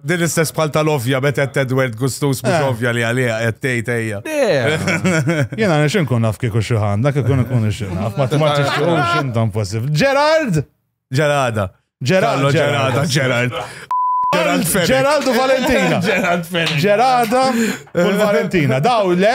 Din l-istess bħal tal-ovja bet qed Edward Gustus mhux eh. ovja li għalija qed tgħid ejja. Jiena nix inkun naf kieku xi ħanda kif ikun ikun ix naf, ma tmar tixtuqux intom possib. Gerard! Gerada. Gerard. Gerada, Gerard. Gerard Fenech. Gerard u Valentina. Gerard Fenech. Gerada u Valentina. Daw le?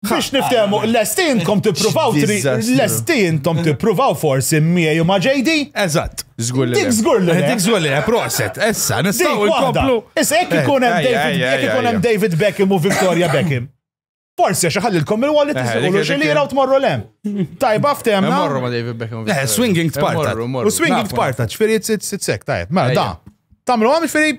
Biex niftehmu, l-esti intom tippruvaw tri, l-esti intom tippruvaw forsi miegħi u ma' JD? Eżatt. Żgur li. Dik żgur li. Dik żgur li, proset. Issa, nistgħu nkomplu. Issa jekk ikun hemm David, jekk ikun hemm David Beckham u Victoria Beckham. Forsi għax ħallilkom il-wallet tiżgħu xi lira u tmorru lem. Tajba ftemna. Morru ma' David Beckham. Eh, swinging tparta. U swinging tparta, ċfiri t-sek, tajb. Ma da. Tamlu għam ċfiri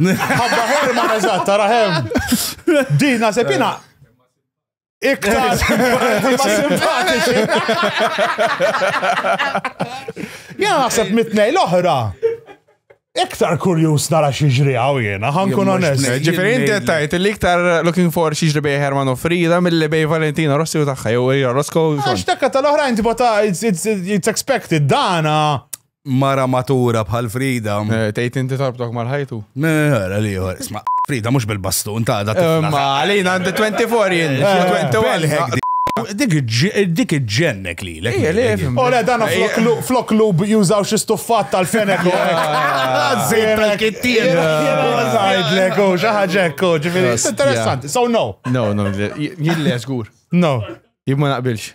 Ħabba Herman, eżatt, tara hemm. Din naħseb jiena iktar ma simpatiċi. Jiena naħseb mitnej l-oħra. Iktar kurjus nara xiġri għaw jena, ħankun onest. Ġifiri, inti tajt li iktar looking for xiġri bej Herman u Frida mill-li bej Valentina Rossi u taħħa, jew Rosco. Għax takka tal-oħra inti bata, it's expected, dana. mara matura bħal Frida. Eh, tgħid inti tarbtok mal-ħajtu? Mera li jħor, isma' Frida mhux bil-bastun ta' da. Eh, ma għalina għandi 24 jien. Dik iġġennek li l Ora dan flok lub jużaw xi stuffat tal-fenek. Zir tal-kittir. Zajdlek, u xaħġek, u ġifiri. Interessanti, so no. No, no, jille żgur. No. Jibma naqbilx.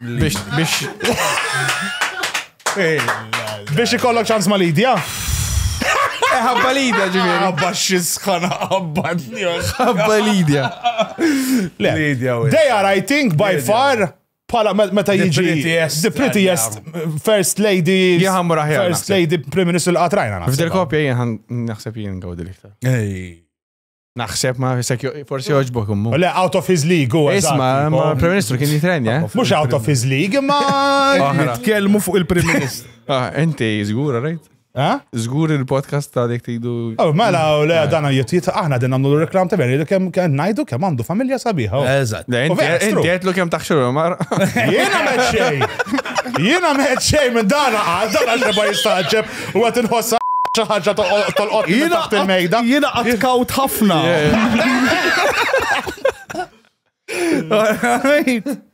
Biex. Biex. Biex ikollok ċans ma Lidja? Ħabba Lidja ġifieri. Ħabba xisħana ħabba Ħabba Lidja. Lidja. They are, I think, by far pala meta jiġi the prettiest first lady first lady prim ministru l-qatrajna. F'dil kopja jien naħseb jien għawdi l-iktar. Naħseb ma fisek forsi joġbok ummu. Le, out of his league, u Isma, ma Prim Ministru kien jitrenja. Eh? Mux out of his league, ma. Nitkellmu fuq il-Prim Ministru. Ah, inti zgura, right? Eh? Zgur il-podcast ta' dik tidu. Oh, mela, u le, eh. dana jittiet, aħna din għamlu l-reklam ta' veri, kem najdu kem għandu familja sabiħa. Oh. Eżat. Inti għetlu kem taħxu l-mar. Jena meċċej. Jena meċċej minn dana għal, dana xeba jistaċċeb. U għat nħossa xi ħaġa tolqot taħt il-mejda. Jiena qatt kawt ħafna.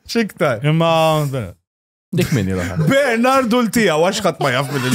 Xiktar. Imma. Dik minni l Bernardu l-tija, għax ħadd ma jaf minn il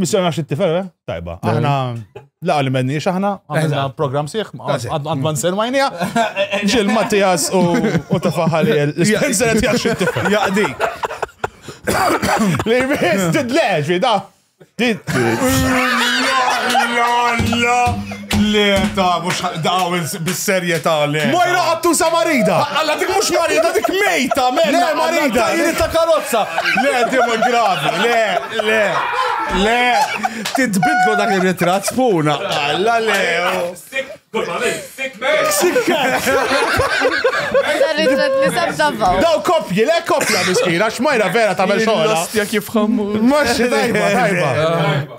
Missjoni għax it-tifel, eh? Tajba. Aħna laqa li menni aħna, għamilna program sieħ, għad man ser majnija, ġil Mattias u tafaħali l-Spencer għed jax it-tifel. Jaqdi. Li jmiss tidleġi, da. Tidleġi. Le, ta' mux daw bis-serjetà le. Mojra għattu sa marida! Alla dik mux marida, dik mejta, mejta! Le, marida! Jiri ta' karozza! Le, dima gravi, le, le, le! Titbidlu dak il-ritrat spuna! Alla le! Sik, kurba lej, sik, mej! Sik, Daw kopji, le kopja miskina, xmajra vera ta' mel xoħla! Jastja kif xammu! Maċi, tajba, tajba!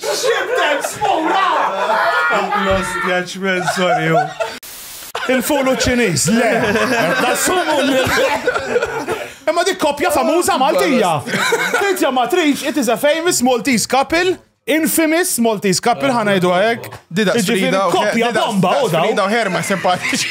Xibdel spura! Lost judgment, sorry. Il-fulu ċiniż, le. Nassumu Imma dik kopja famuża Maltija. Tintja matriċ, it is a famous Maltese couple. Infamous Maltese couple ah, ħana jdu għek. Dida Frida. Kopja bomba, u da. Frida u Herma simpatiċi.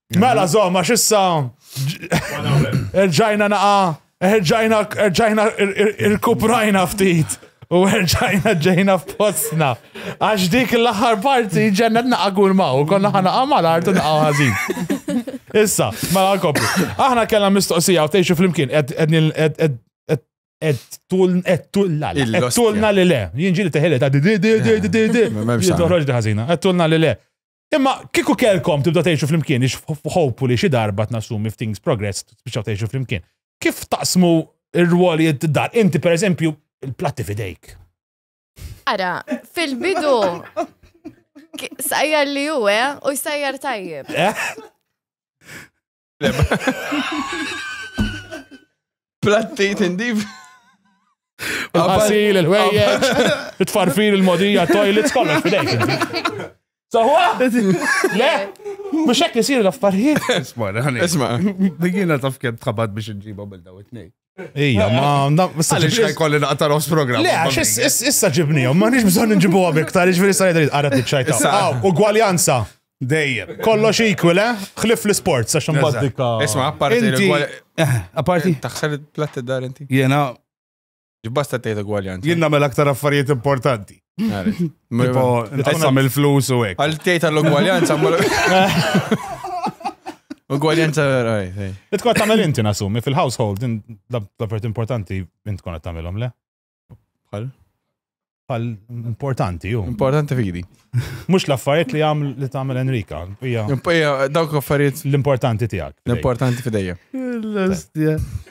Mela zom, għax issa. Erġajna naqa, erġajna, erġajna, irkuprajna ftit. U erġajna ġejna f'postna. Għax dik l-aħħar parti ġennet naqa kull ma' u konna ħana għamal artu naqa ħazin. Issa, mela kopri. Aħna kellna mistoqsija u tgħixu flimkien ed tulna le. Tulna li le. Jinġi li teħele ta' di di di di di di. Jintoħroġ di ħazina. Tulna li le. Imma kieku kelkom tibda tgħixu flimkien, ix hopefully xi darba tnassumi if things progress tbiċċaw tgħixu flimkien. Kif taqsmu r-rwoli id-dar? Inti pereżempju il-platti fidejk. Ara, fil-bidu sajjar li huwa eh, u jsajjar tajjeb. Eh? Platti tindif. Il-qasil, il-ħwejjeġ, it-tfarfir, il-modija, toilets, kollox fidejk. Sawa? Le? Mux hekk isir l-affarijiet. Isma, isma. Digina taf kem tħabat biex nġiba bil daw it-nej. Ija, ma naf. Għalix xaj kolli naqtar os program. Le, għax issa ġibni, ma nix bżon nġibu għabek, tal ġviri sa' jadri għarat nċajta. Għaw, ugwaljanza. Dejjem. Kollox equal, eh? Xlif l-sport, sa' xambat dikka. Isma, apparti. Apparti. Eh, Taxsar il-platt id-dar inti. Jena. Ġibbasta tejta ugwaljanza. Jena mel aktar affarijiet importanti. Tipo, tqassam il-flus u hekk. Għal tgħid għall-ugwaljanza Ugwaljanza raj. Li tkun tagħmel inti nasumi fil-household l-affarijiet importanti int tkun qed tagħmilhom le. Bħal? Bħal importanti ju. Importanti fidi. Mhux l-affarijiet li għaml li tagħmel Enrika. Hija dawk affarijiet l-importanti tiegħek. L-importanti fidejja.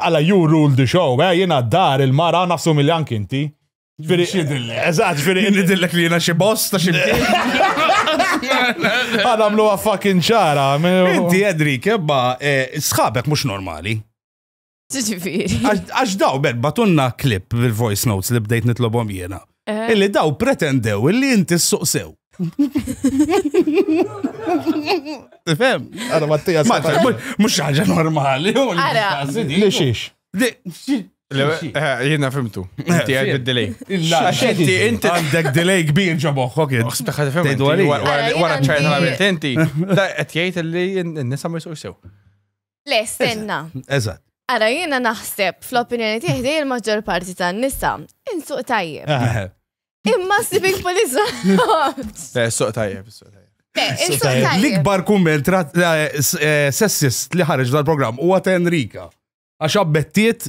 Alla you rule the show, eh, jina d-dar, il-mara, nassumi li anki inti. Firi, eżat, firi. Inni dillek li jina xie boss ta' xie. Għadam lu fucking ċara. Inti, Edri, kebba, eh, sħabek mux normali. Għax daw, ben, batunna klip bil-voice notes li bdejt nitlobom jena. Eh. Illi daw pretendew illi inti s-suqsew. Fem, għara Mattia s-sabar. Mux ħagġa normali. Li xiex? Jena fimtu. Inti għed bid-delay. Inti inti għandek delay kbir ġaboħħok jed. Uħsib taħħa tifem. Wara ċajna għamil tenti. Da għed jgħid li n-nisa ma jisuq sew. Le, stenna. Eżatt. Ara jiena naħseb fl-opinjoni tiegħi dej il-maġġor parti tan-nisa insuq tajjeb. Ah. Imma civic police. Eh, Suq tajjeb, suq tajjeb. Le, insuq tajjeb. tajjeb. L-ikbar kumment ra- eh, s- eh, sessist li ħareġ dal-programm huwa ta' Enrika. Għax abbettiet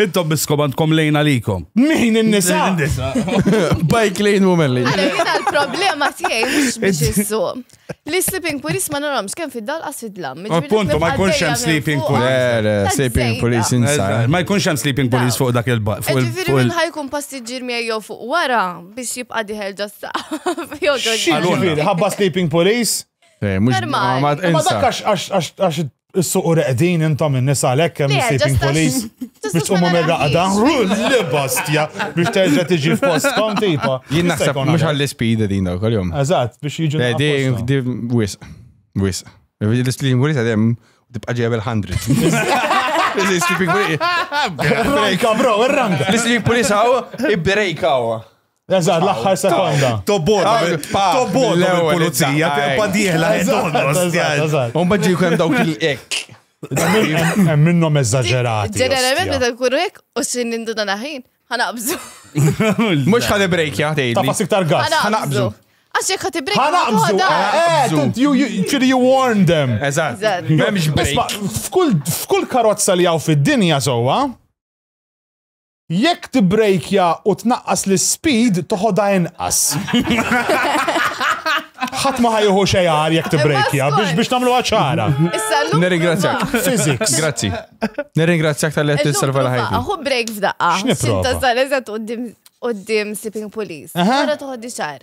Intom biskom għandkom lejn għalikom. Min in-nisa? Bike lane woman lane. Għalek jina l-problema tiegħi mhux biex issu. Li sleeping police ma naromx kemm fid-dal qas fid-dlam. Appuntu, ma jkunx hemm sleeping police. Sleeping police inside. Ma jkunx hemm sleeping police fuq dak il-baq. Ġifieri minn ħajkun passiġġier miegħi jew fuq wara biex jibqa' diħel ġasta. Ġifieri ħabba sleeping police? Eh, Normal. Ma dakkax għax Is-suqu reqdin intom in-nisa għalhekk hemm is-sitting police biex tqumu mir-raqda. Li bastja biex terġa' tiġi f'postkom tipa. Jien naħseb mhux għall-ispid din daw kol-jum. Eżatt, biex jiġu. Di wis, wis. L-ispid police għadem tibqa' ġejja bil-hundred. L-ispid police. Brejka, bro, ir-ranga. L-ispid police għaw, i-brejka għaw. Eżatt, l-aħħar sekonda. Tobboda, tobboda l-pulizija, tempa diħla, eżatt. Un bħadġi kem dawk il-ek. Hemm minnhom eżaġerati. Ġeneralment meta nkunu hekk u x'in nindu dan aħin, ħanaqbżu. Mhux ħad break ja tgħid. Tafa siktar gas. Ħanaqbżu. Għax jekk ħad break. Ħanaqbżu. Eh, Ċiri you warn them. Eżatt. M'hemmx break. F'kull karozza li hawn fid-dinja sewwa, Jekk tibbrejkja u tnaqqas l-ispeed toħodha inqas. Ħadd ma ħajħu xejn għar jekk tibbrejkja biex biex nagħmluha ċara. Issa llum. Nirringrazzjak. Physics. Grazzi. Nirringrazzjak tal-li qed tisserva la ħajti. Aħu break f'daqqa. X'nipprova? Xinta sal eżatt qudiem qudiem sleeping police. Aha. Ara toħoddi xar.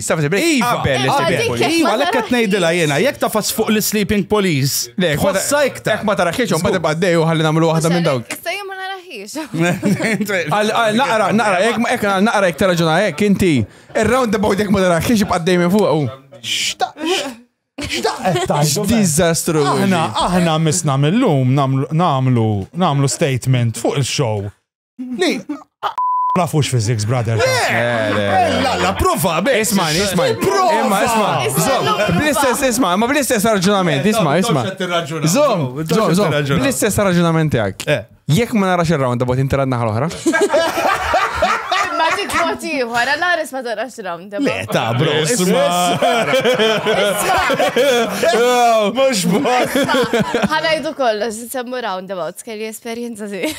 Issa fis break. Iva, qabel Iva, dik il-sleeping jekk police. Iva, ma għalhekk qed tarax ngħidilha fis. jiena, jekk tafas fuq l-sleeping police, Le, jekk ma ta- tħossha iktar. Jekk ma tarax xejn, ma Żgur. tibqa' dej u ħalli nagħmlu waħda minn dawk. Issa jien ma naraħiex. Għal- għal Naqra, naqra, jekk ma- jekk għal naqra jekk taraġuna hekk inti. Ir-round about jekk ma tarax xiex ibqa' dejjem fuq. u. X'daqqa tajdu? Diżastru. Aħna, aħna misna mill-lum namlu, namlu, namlu statement fuq il-show Li, nafux physics, brother. La, la, prova, beh. Isma, isma. Prova, isma. Bl-istess, isma, ma bl-istess raġunament, isma, isma. Zom, zom, zom. Bl-istess raġunament għak. Eh. Jek ma narax il-round, bot interad naħal oħra. Maġik motiħu, għara naris ma tarax round. Le, ta, bro, isma. Mux bħal. Għana jidu kollox, semmu round about, kelli esperienza zi.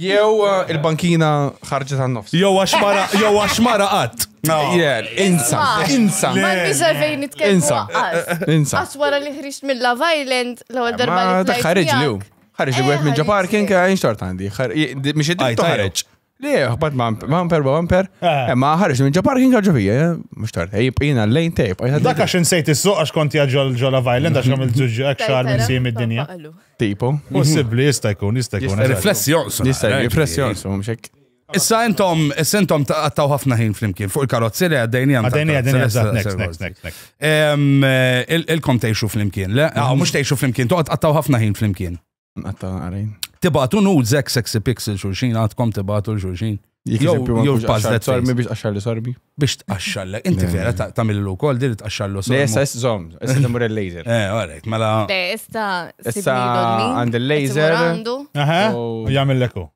Jew uh, il-bankina ħarġet għan nofs. Jew għax mara, jew għax mara qatt. Jel, insa, insa. Ma nisa fejn nitkellmu. Insa, insa. Għax wara li ħriġt mill Love Island, l-ewwel darba li. Ma ħarġ li. Ħarġ li għet minn ġo parking, għajn xort għandi. Miex id ħarġ. Li, ħbat bumper, bumper. Eh. Ma ħarġ minn ġo parking għagġu fija, eh? mux tort. Ej, jina l-lejn tejp. Dak għax nsejt il-suq għax konti għagġu l-ġo Love Island għax għamil ġuġu għakxar minn sim id-dinja. Tipo. Possibli, jista' jkun, jista' jkun. Riflessi jonqsu. Jista' jkun, riflessi jonqsu, mxek. Issa intom, issa intom taqattaw ħafna ħin flimkien fuq il-karozzi li għaddejni għam. Għaddejni għaddejni għazzat, next, next, next, next. Eh, ilkom teħxu flimkien, le? Għaw, ah, mux teħxu flimkien, toqgħod taqattaw ħafna ħin flimkien. Għattaw għarin. Tibatu nud zek sexy pixel xulxin, għatkom tibatu xulxin. Jew pażlet sormi biex qaxxar li sorbi. Biex tqaxxar lek. Inti vera tagħmel l ukoll dir tqaxxar l sorbi. Issa żomm, issa nimur il-laser. Eh, għalek, mela. Issa issa għand il-laser. Aha, u jagħmel leku.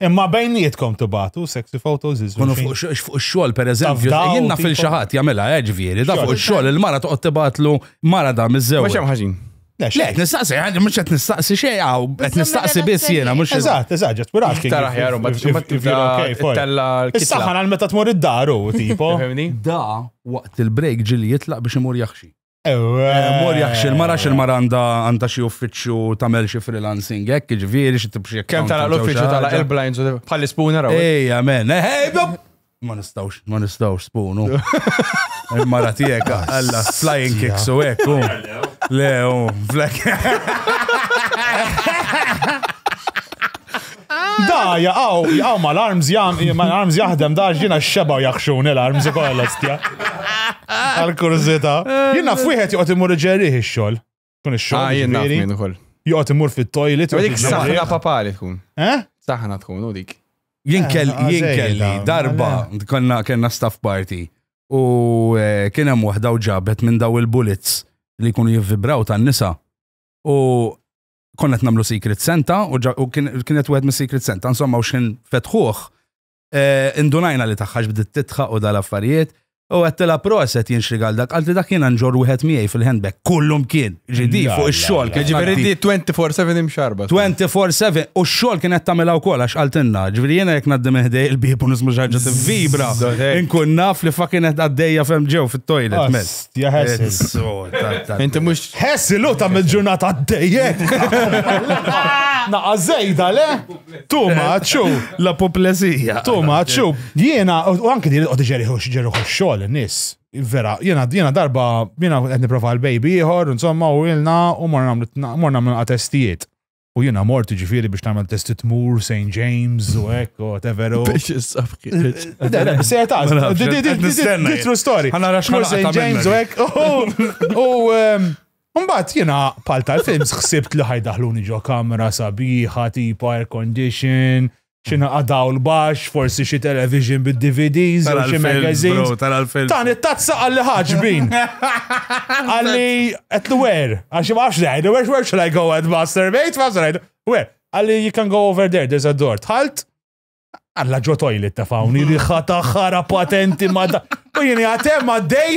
Imma bejnietkom tibatu sexy photos iż Kunu fuq ix-xogħol pereżempju, jien naf il xi ħadd jagħmilha eh, ġifieri, da fuq ix-xogħol il-mara toqgħod tibatlu mara da miż-żewġ. Mhux hemm ħaġin. Le, Le, xejn. qed nistaqsi, għandi mhux qed nistaqsi xejn, għaw, qed Bizzom nistaqsi biss relazzjoni. jiena, mhux Eżatt, eżatt, ġet we're asking. Iktar if- aħjar, u ma if- tista' if- if you're okay, fine. tella l-kitla. Is-saħħa għal meta tmur id-daru, tipo. Fehmni? Da waqt il-break ġili jitlaq biex imur jaħxi. Ewe. Eh, Mor jaħxi il-mara xi l-mara għandha għandha xi uffiċċju tagħmel xi freelancing hekk, jiġifieri xi tibxi Kem tala l-uffiċu tala il-blinds u bħal spooner għaw. Ej, amen. Ej, bob! Ma nistawx, ma nistawx spunu. Il-mara tijek, għalla, flying kicks u ek, u. Le, u, flak. Da, jaqaw, jaqaw ma l-arms jam, ma l-arms jaħdem da, ġina xeba u jaxxun l-arms u kolla stja. Għal-kurzita. Jina fwiħet juqot imur ġerriħ il-xol. Kun ix-xogħol. Ah, jien naf jiġifieri. minn ukoll. Joqgħod imur fit-toilet. joqgħod Dik jiġri. saħna papali tkun. Eh? Saħna tkun u dik. Jien kell- Ah, jien zejda, kelli darba mela. konna kellna staff party u eh, kien hemm waħda u ġabet minn daw il-bullets li jkunu jivvibraw tan-nisa u konna qed nagħmlu Secret Santa u, ġa- u kien- kienet wieħed mis-Secret Santa insomma u x'kien fetħuh Eh, indunajna li taħħax bdiet titħa u dal-affarijiet. U għattela proset jinxrigal dak, għalti dak jena nġor wieħed miegħi fil-handbag, kullum kien, ġidi fuq ix-xogħol. Ġifieri di 24/7 imxarba. 24/7 u x-xogħol kien qed tagħmilha wkoll għax qaltilna, ġifieri jiena jekk ngħaddim ħdej il-bib u nismu xi ħaġa vibra. Inkun naf li fakin qed għaddejja fem ġew fit-toilet. Inti mhux ħessi lu ta' mill-ġurnata għaddejjek. Naqa' żejda le? Too much, u. La poplezija. Too much, u. Jiena, u anki dir qod ġeriħu xġeriħu xogħol nis. Vera, jiena jiena darba, jiena qed niprofa l-baby ieħor, insomma, u ilna u morna morna minn testijiet. U jiena mort ġifieri biex nagħmel testi tmur St. James u hekk u whatever. Biex issaf Se ta' true story. St. James u hekk. U Mbagħad jiena pal tal-films ħsibt li ħajdaħluni ġo kamra sabiħa tipo air condition, xina għadaw l-bax, forsi xi television bid-DVDs, u xi magazines. Tan it-tazza għalli ħagġbin. Għalli at the wear. Għaxi maħx lejdu, where, where should I go and masturbate? Maħx lejdu. Where? Għalli you can go over there, there's a door. Tħalt? Alla ġo toilet ta' fawni li ħata ħara patenti ma da. U jini għatem għaddej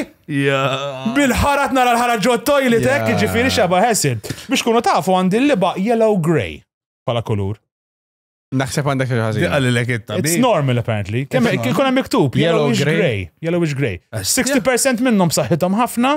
bil-ħarat nara l-ħara ġo toilet hekk ġifiri xaba ħessin. Biex kunu tafu għandi l-liba yellow grey pala kulur. Naħseb għandek xi ħażin. Għalli lek it It's normal apparently. Kemm ikun hemm miktub yellowish grey, yellowish grey. 60% minnhom saħħithom ħafna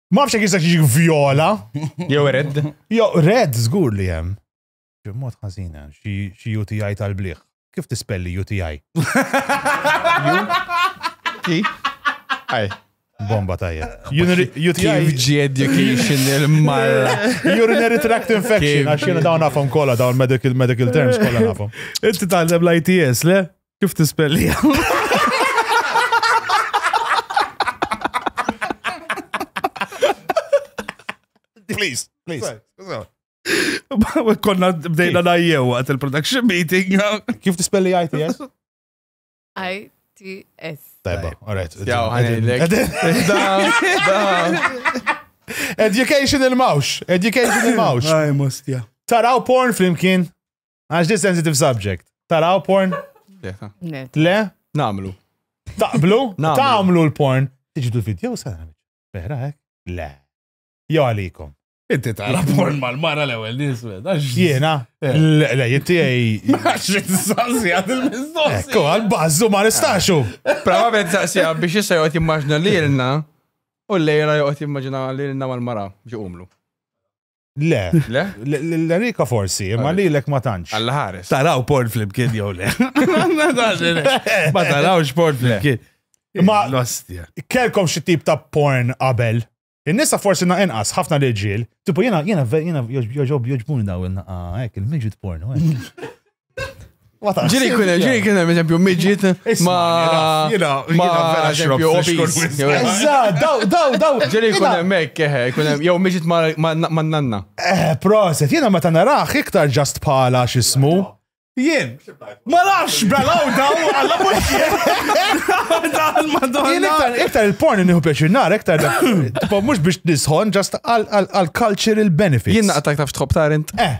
Ma fxek jista jiġi viola. Jew red. Jew red, zgur li jem. Mod ħazina, xie UTI tal-bliħ. Kif tispelli UTI? Kif? Aj. Bomba tajja. UTI education il-marra. Urinary tract infection, għax jena dawn nafhom kolla, dawn medical medical terms kolla nafhom. Inti tgħallem l-ITS, le? Kif tispellija? Please, please. Konna bdejna najjew għat il-production meeting. Kif tispelli ITS? ITS. Tajba, alright. Jaw, ħanilek. Education il-mawx. Education il-mawx. Taraw porn flimkien. Għax di sensitive subject. Taraw porn? Le? Namlu. Taqblu? Taqblu l-porn. Tiġi tu video sa' vera hekk? Eh? Le. Jo għalikom. Inti tara porn mal-mara l-ewel niswed. Jena? Eh. Le, jinti għaj. Maċri t-sassi għad il-mistoqsi. Ekku, għal-bazzu ma nistaxu. Prava bħed sassi għab biex jissa jgħot immaġna li l-na u l-lejra jgħot immaġna li l-na mal-mara biex umlu. Le. Le? L-Erika forsi, imma li l-ek ma tantx. Alla ħares. Taraw porn flimkien jew le. Ma tarawx porn flimkien. Ma l-ostja. Kelkom xi tip ta' porn qabel. In-nisa forsi na inqas, ħafna l-ġil. Tipo jena, jena, jena, joġob, joġbuni daw il-naqa, ek, il-midget porn, Ġiri kun ġiri kun hemm eżempju midget ma ma eżempju obis. Eżatt, daw daw daw. Ġiri kun hemm hekk eh, kun hemm jew midget ma nanna. Eh, proset, jiena meta narah iktar ġast bħala x'ismu. Jien, ma nafx belaw daw għalla mutjer. Jien iktar iktar il-porn nieħu pjaċir nar, iktar mhux biex nisħon ġast għal cultural benefits. Jien naqtak taf tħobb tarint. Eh.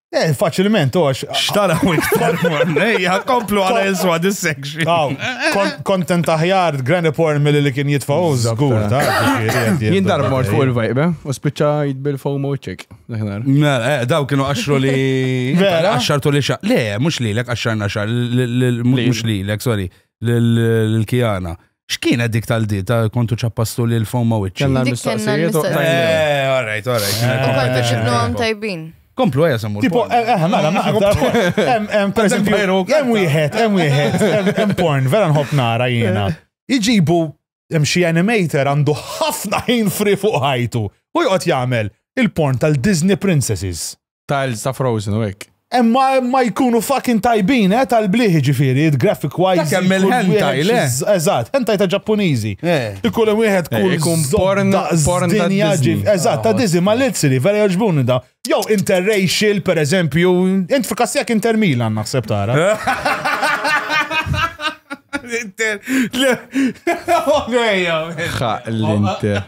Eh, faċilment, ox. Xtara u iktar mornejja, komplu għala jiswa this section. Aw, kontent aħjar, granny porn mill li kien jitfaw, zgur, ta' Jien dar mort fuq il-vajbe, u spiċċa jitbil fomo ċek. Eh, daw kienu għaxru li. Għaxartu li xa. Le, mux li l-ek, għaxarna xa, mux li l-ek, sorry, l-kijana. X'kienet dik tal-di ta' kontu ċappastu li l-fon ma wiċċi? Kellna Dik kellna l-mistoqsijiet u l-mistoqsijiet. tajna. Eh, all right, all right. kien il-competition. Konna ġibnu għam tajbin. Komplu għaja samur. Tipo, eh, eh, mela, naqdar. Em- em, Per eżempju, Vampire u hemm wieħed, hemm wieħed, hemm- hemm porn, vera nħobb nara jiena. Iġibu hemm xi animator għandu ħafna ħin fri fuq ħajtu. U joqgħod jagħmel il-porn tal-Disney Princesses. tiles ta' Frozen u hekk. Emma ma jkunu fucking tajbin, eh, tal-bliħi ġifiri, graphic wise. Dak hemm il-hentai, le? Eżatt, hentai ta' ġappuniżi. Ikun hemm wieħed kull. Ikun porn, porn ta' Disney. Eżatt, ta' Disney, ma l-ilsiri, vera joġbuni da. Jew interracial, per eżempju, int fikassijak intermilan naħseb tara. L-inter. L-inter.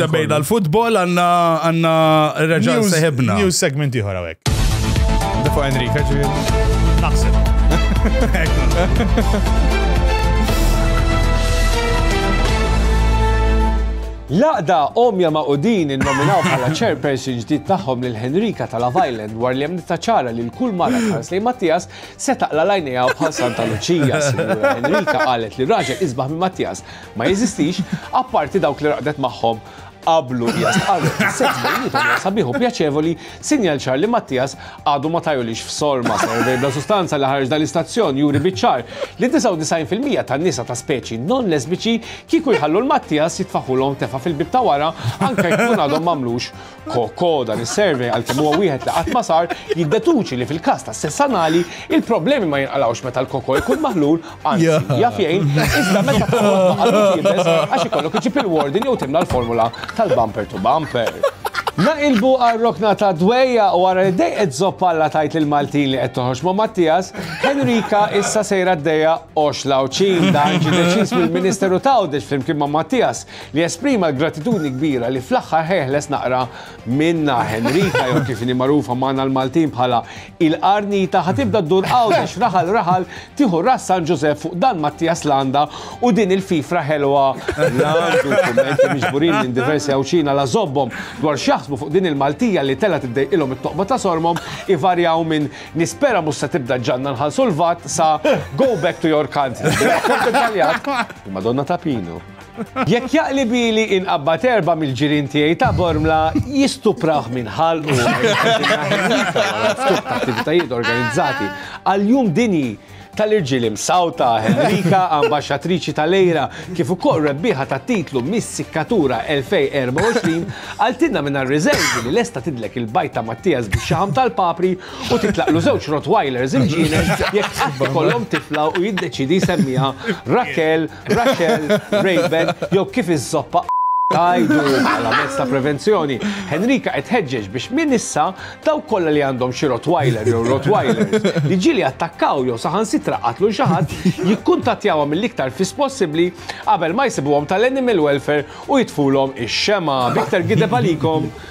Semmejna l-futbol għanna għanna reġal seħibna. News segment iħor għawek. Dafu Enrika ġivir. Naħseb. Laqda omja ma' udin il-nominaw bħala chairperson ġdid tagħhom lil Henrika ta' Love Island war li hemm ċara li l-kull mara tħares li Mattias se taqla lajnejha bħal Santa Luċija. Henrika qalet li raġel isbaħ minn Mattias ma jeżistix, apparti dawk li raqdet magħhom qablu hija stqarret is-sess bejnietom hija sabiħ u pjaċevoli, sinjal ċar li Mattias għadu ma tajulix f'sorma servej bla sustanza li ħareġ dal-istazzjon juri biċ-ċar li 99% tan-nisa ta' speċi non lesbiċi kieku jħallu l-Mattias jitfaħulhom tefa' fil-bieb ta' wara anke jkun għadhom m'għamlux Koko dan is-survey għalkemm huwa wieħed li qatt ma sar jiddetuċi li fil-każ ta' sess anali il-problemi ma jinqalgħux meta l-koko jkun maħlul anzi jaf jgħin iżda meta toħloq ma' jibes għax ikollok iġib il-warden jew timla l-formula tal-bumper to bumper. Naqilbu għar-rokna ta' dwejja u wara li dejqet zoppalla tajt lil Maltin li qed toħroġ ma' Mattias, Henrika issa sejra d-dejja għoxla u ċin dan ġie deċiż mill-Ministeru ta' Għawdex flimkien ma' Mattias li esprima l-gratitudni kbira li fl-aħħar ħejħles naqra minnha Henrika jew kif inhi magħrufa magħna l-Maltin bħala il-Qarnita ħa tibda ddur Għawdex raħal raħal tieħu Ras San Ġużepp fuq Dan Mattias Landa u din il-fifra ħelwa Landu kummenti miġburin minn diversi Għawdxin għala żobbhom dwar x'jaħsbu fuq din il-Maltija li tela tiddejqilhom it-toqba ta' sormhom ivarjaw minn nispera mhux se tibda ġġanna nħallsu l-vat sa go back to your country. Madonna ta' Pinu. Jekk jaqlib ili inqabbad erba' mill-ġirien tiegħi ta' Bormla jistuprah minn ħalqu. Attivitajiet organizzati għal jum dinji tal-irġiel imsawta Henrika, ambaxxatriċi tal-Lejra, kif ukoll rebbieħa tat-titlu Miss Sikkatura 2024, qaltilna minn għar-riżervi li lesta tidlek il-bajt ta' Mattias bix-xaħam tal-papri u titlaqlu żewġ Rottweilers il-ġienen jekk tħabb ikollhom tifla u jiddeċiedi jsemmieha Raquel Raxel, Rayben jew kif iż-zoppa tgħidu bħala mezz ta' prevenzjoni. Henrika qed tħeġġeġ biex minn issa dawk kollha li għandhom xi Rottweiler jew Rottweilers li ġieli attakkaw jew saħansitra qatlu xi ħadd jikkuntattjawha mill-iktar fis possibbli qabel ma jsibuhom tal-Animal Welfare u jitfulhom ix-xemgħa. B'iktar gideb għalikom!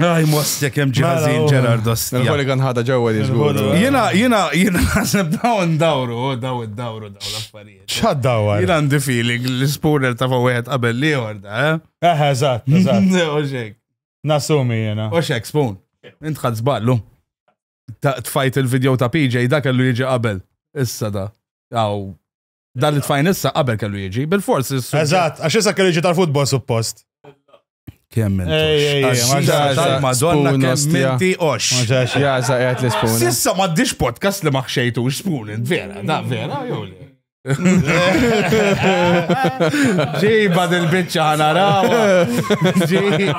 Aj, mostek jem ġiħazin mela, Gerard Ostia. Nħoli kan ħada ġewwa li zgur. Jena, jena, jena naħseb dawn dawru, oh, daw id-dawru daw l-affarijiet. ċad dawar? Jena għandi feeling li spooner ta' fa' wieħed qabel li jorda, eh? Eh, eżatt, eżatt. Oxek. Nasumi jena. Oxek, spoon. Intħad zballu. Tfajt il-video ta' PJ da kellu jiġi qabel. Issa da. Aw, Dan it-tfajn issa qabel kellu jiġi, bil-fors. Eżatt, għax issa kellu jiġi tal-futbol suppost. Kemm Madonna kemm minti ox. Jaza qiegħed l-ispun. Sissa m'għaddix podcast li ma ħxejtux spun, vera, da vera, jew le. Ġiba dil-bicċa ħanarawa. Ġiba.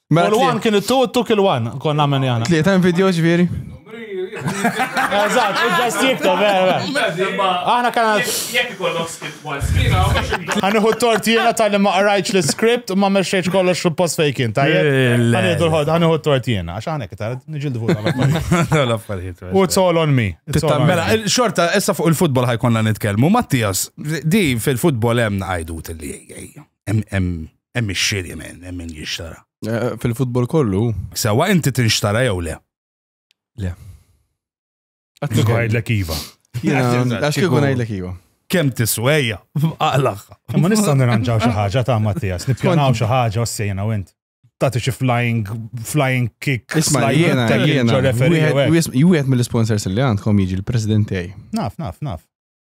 Mela Kull one kien it-two, it-two kill one. Konna għamel jana. Tliet hemm video ġifieri. Eżatt, u ġast jikteb, vera, vera. Aħna kana. Jekk ikollok skip one skina, Għaniħu t-tort jena tal-li ma qrajċ l-script u ma meċċeċ kollox fil-post fejkin, tajjeb? Le. Għaniħu l-ħod, għaniħu t-tort jena, għax għanek, tal nġildu fuq l-affarijiet. U it's all on me. It's all on Mela, me. xorta, issa fuq il-futbol ħajkonna nitkellmu. Mattias, di fil-futbol hemm għajdut li hemm ix-xiri men, hemm min jixtara. Eh, fil-futbol kollu. Sewa inti tinxtara jew le? Le. Għattu għajdlek iva. Għax kikun għajdlek iva. Kem tiswejja, għalax. Ma nista' nirranġaw xi ħaġa ta' Mattias, nippjanaw xi ħaġa ossejna u int. Tati xi flying flying kick. Isma' jiena jiena wieħed mill-sponsors li għandkom jiġi l-President tiegħi. Naf, naf, naf.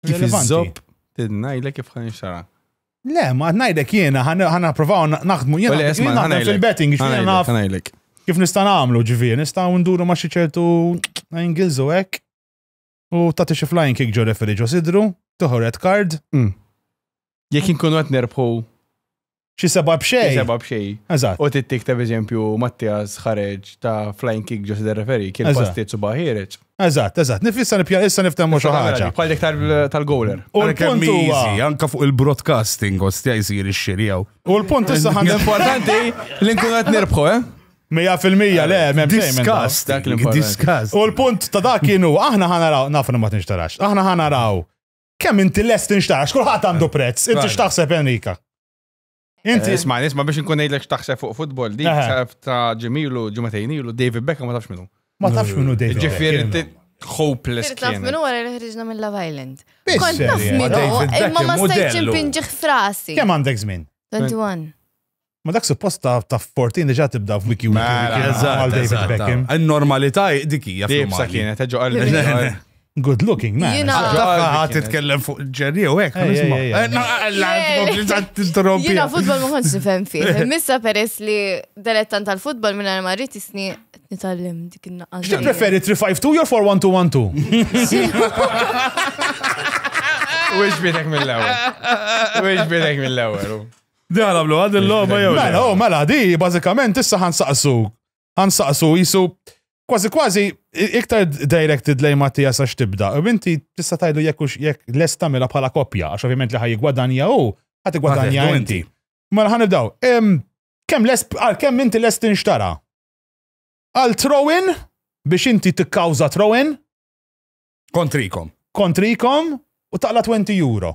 Kif Relevanti. iżob, tidnajlek kif ħan xara. Le, ma ngħidlek jiena ħana provaw naħdmu jiena Ole, esma, jiena naħdem ħanajlek. fil-betting jiena Ħanajlek, naf ħanajlek. kif nista' nagħmlu ġifieri, nistgħu nduru ma' xi ċertu angles u hekk. U tagħti xi flying kick ġo referi ġo sidru, toħu red card. Mm. Jekk inkunu qed nerbħu xi seba' b'xejn. Seba' b'xejn. Eżatt. U tittik ta' eżempju Mattias ħareġ ta' flying kick ġo sider referi kien pastiet suba ħiereġ. Eżatt, eżatt. Nifissa nipja issa niftemmu xi ħaġa. Bħal dik tal-goler. U l-punt huwa anke fuq il-broadcasting ostja jsir ix-xirjaw. U l-punt issa ħan importanti li nkunu qed nirbħu, eh? Mija fil-mija, le, mem Disgust, dak l-importanti. U l-punt ta' dak kienu, aħna ħanaraw, naf ma tinxtarax, aħna ħanaraw Kemm inti lest inxtara, xkulħat għandu eh, prezz, inti xtaħseb Enrika. Inti. Eh, isma, isma biex nkun ngħidlek xtaħseb fuq futbol, di ta' ġemilu ġumatejn ilu David Beckham ma tafx minnu. Ma tafx minnu David. Ġifieri hopeless kien. Taf minnu għara li ħriġna minn Love Island. Kont taf minnu, imma ma stajċ impinġiħ frasi. Kemm għandek żmien? 21. Ma dak suppost ta' ta' 14 diġa tibda f'wiki wiki Mela, wiki eżatt, għal David eżatt. Beckham. In-normalità dik hija Dibsa fl-Mali. kienet, eġo qalbi. Good looking man. Jiena- Għadda Għadda ħadd qalbi titkellem fuq ġerri u hekk, Ej, ej, nisma'. ej, ej. Eh, no, alla, tkompli tant tinterrompi. Jina futbol ma kontx nifhem fih. Missa peress li delettant tal-futbol minn ma rrid isni nitgħallem dik in-naqqas. Xi preferi 352 jew 41212? U iġbidek mill-ewel. U iġbidek mill-ewel. Di għana blu, għad il-logħba jew. Mela, oh, mela, di, bażikament issa ħansaqsu. Ħansaqsu jisu kważi kważi iktar directed lejn Mattia sa x'tibda. U inti tista' tajdu jekk jekk lest tagħmilha bħala koppja, għax ovvjament li ħaj jigwadanja u ħad igwadanja inti. Mela ħan nibdaw. Kemm lest għal kemm inti lest inxtara? Għal throw-in biex inti tikkawża throw-in? Kontrikom. Kontrikom u taqla 20 euro.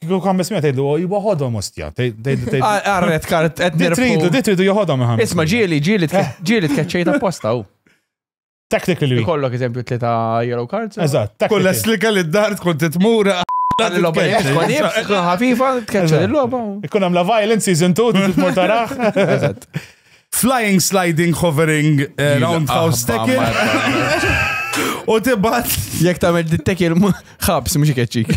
Kieku kan bismija tgħidlu oh, iwa ħodhom ostja. Arret kart qed tridu, di tridu joħodhom iħam. Isma' ġieli, ġieli eh. ġieli tkeċċejt apposta hu. Technically. Kollok eżempju tlieta yellow cards. Eżatt. Kull li kelli d-dar tkun titmura. L-logħba ħafifa tkeċċa l-logħba. Ikun hemm la violence season 2 tmur taraħ. Eżatt. Flying sliding hovering eh, roundhouse tackle. U tibat Jek tagħmel dittekil ħabs mhux ikeċċik.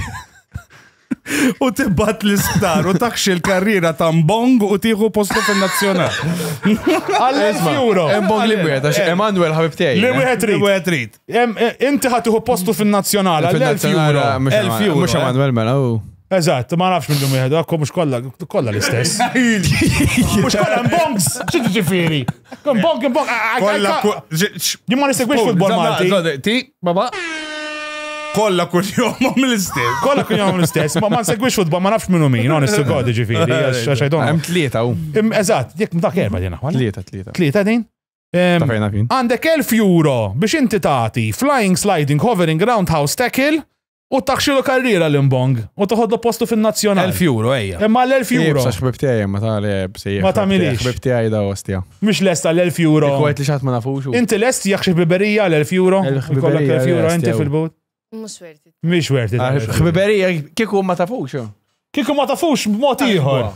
u tibat l-isptar u takxi l-karriera ta' Mbong u tieħu postu fin-nazzjonal. Għal-1000 euro. Embong li wieħed għax Emanuel ħabib tiegħi. Li wieħed Li trid. wieħed trid. Em, eh, Inti ħatiħu postu fin-nazzjonal għal-1000 euro. Mhux 1000 euro. Emanuel mela u. Eżatt, ma nafx minnum jihdu, għakku mux kolla, kolla l-istess. Mux kolla mbongs, ċiġi ġifiri. Mbong, mbong, jimma nisegwix futbol Malti. Ti, baba. Kolla kun jomom l-istess. Kolla kun jomom l-istess, ma nsegwix futbol, ma nafx minnu min, non issu godi ġifiri, xajdon. Għem tlieta u. Eżatt, jek mdak erba dina. Tlieta, tlieta. Tlieta din? Għandek 1000 euro biex inti tati flying, sliding, hovering, roundhouse, tackle, U taħxilu karriera l-imbong. U toħodlu postu fin-nazzjonal. 1000 euro, ejja. Imma l-1000 euro. Sa xbib tiegħi ma ta' li bsejjer. Ma tagħmilix. Xbib tiegħi da ostja. Mhux lesta l-1000 euro. Kwet li xatt ma nafux. Inti lest jekk xi biberija l-1000 euro. Kollok 1000 euro inti fil-but. Mhux werti. Mhux werti. Xbiberija kieku ma tafux. Kieku ma tafux b'mod ieħor.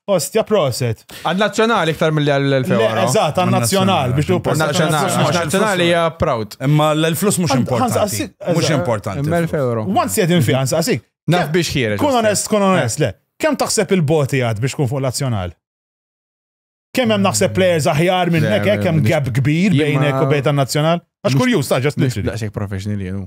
Ostja proset. Għal-nazzjonali iktar mill l-2000. Eżat, għal-nazzjonali biex tu Nazzjonali hija proud. Imma l-flus mhux importanti. Mhux importanti. Imma l-euro. Once jedin fi għansa għasik. Naf biex ħiereġ. Kun onest, kun onest, le. Kem taħseb il-boti għad biex kun fuq l-nazzjonal? Kem hemm naħseb players aħjar minn nek, kem gap kbir bejnek u bejn tan-nazzjonal? Għax kurjuż, ta' ġast li. Daqsek professional jenu.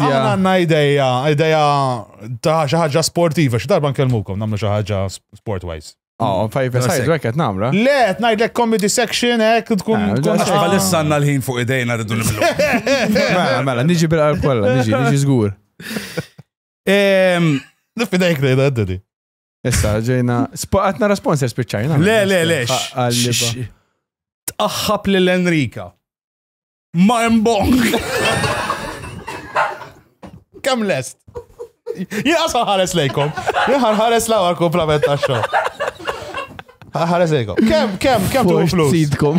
Aħna għanna ideja, ideja ta' xaħġa sportiva, xi darba nkellmukom namlu xaħġa sport-wise. Oh, fajf sajdu għek għet namra. Le, għet najd l-ek comedy section, għek tkun. Għax bħalissa għanna l-ħin fuq idejna rridu niblu. Mela, mela, niġi bil-qalb kolla, niġi, niġi zgur. Nifidajk li għedda di. Issa, ġejna, għatna responsor spiċċajna. Le, le, le. Tqaħħab l-Enrika. Ma hemm bong. Kemm lest? Jien asal ħares lejkom. Jien ħares l-ewwel kumplament tax-xogħol. Ħares lejkom. Kemm kemm kemm tu flus? Sidkom.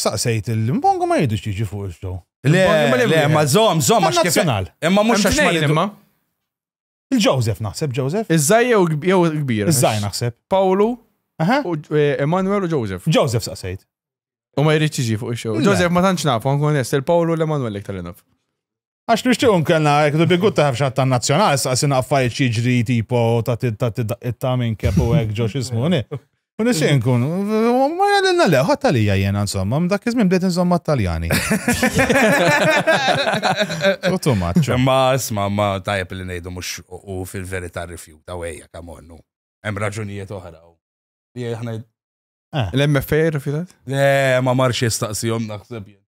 Saqsejt il-Mbongo ma jridux jiġi fuq il-show. Le, le, ma zom, zom, għax kif. Eh, ma mux għax ma jidma. Il-Joseph naħseb, Joseph. Iż-żaj jew il-kbir. Iż-żaj naħseb. Pawlu, eh, Emanuel u Joseph. Joseph saqsejt. U ma jridx jiġi fuq il-show. Joseph ma tantx nafu, nkun il-Pawlu l-Emanuel iktar naf. Għax nixtieq nkellna hekk bi good taħaf xatt tan-nazzjonal, saqsina affarijiet xi jiġri tipo ta' ta' minn kepu hekk ġo x'ismu U nixtieq nkun, ma jgħalilna le, ħadd għalija jiena insomma, dak iż-żmien bdejt insomma Taljani. Tuttu maċċu. Ma isma' ma tajjeb li ngħidu mhux u fil-verità rifjuta u ejja kemm onnu. Hemm raġunijiet oħra. Li aħna eh. L-MFA rifjutat? Le, ma marx jistaqsihom naħseb jien.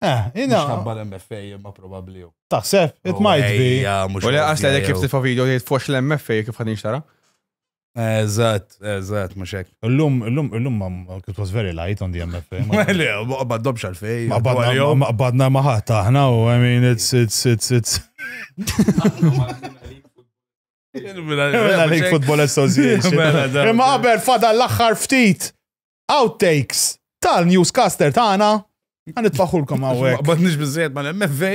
Eh, ina. Xabba l-MFA imma probabli. Taħseb, it oh, might be. U li għasla li kif tifa video li tfox l-MFA kif għadin xtara? Eżat, eżat, muxek. L-lum, l-lum, l-lum, it was very light on the MFA. Mele, baddom xalfej. Ma badna maħat aħna u, I mean, it's, it's, it's, it's. Mela, League Football Association. Mela, Imma qabel fada l-axħar ftit. outtakes tal-newscaster tagħna Għan itfaħulkom għawek. Bat nix bizzejt ma l-MFA.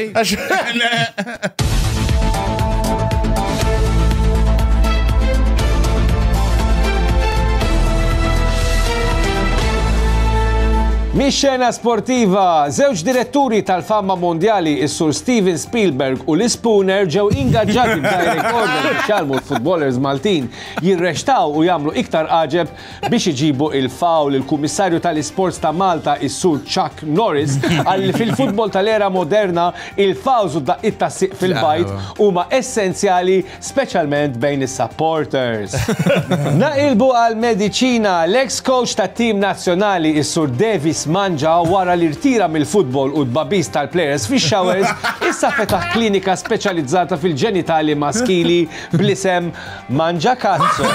Mix-xena sportiva, żewġ diretturi tal-famma mondjali, is-sur Steven Spielberg u Liz Spooner ġew ingaġġati b'direct order biex jgħalmu l-futbolers Maltin jirrextaw u jagħmlu iktar għaġeb biex iġibu il-fawl il-Kummissarju tal-Isports ta' Malta is-Sur Chuck Norris qal li fil-futbol tal-era moderna il-fawls u d-daqqiet tas-sieq fil-bajd huma essenzjali speċjalment bejn is-supporters. Naqilbu għall-mediċina, l-eks kowċ tat-tim nazzjonali is-Sur Davies Mangia wara li rtira mill-futbol u t-tbagħbis tal-plejers fix-showers issa fetaħ klinika speċjalizzata fil-ġenitali maskili bl-isem Mangiacazzo,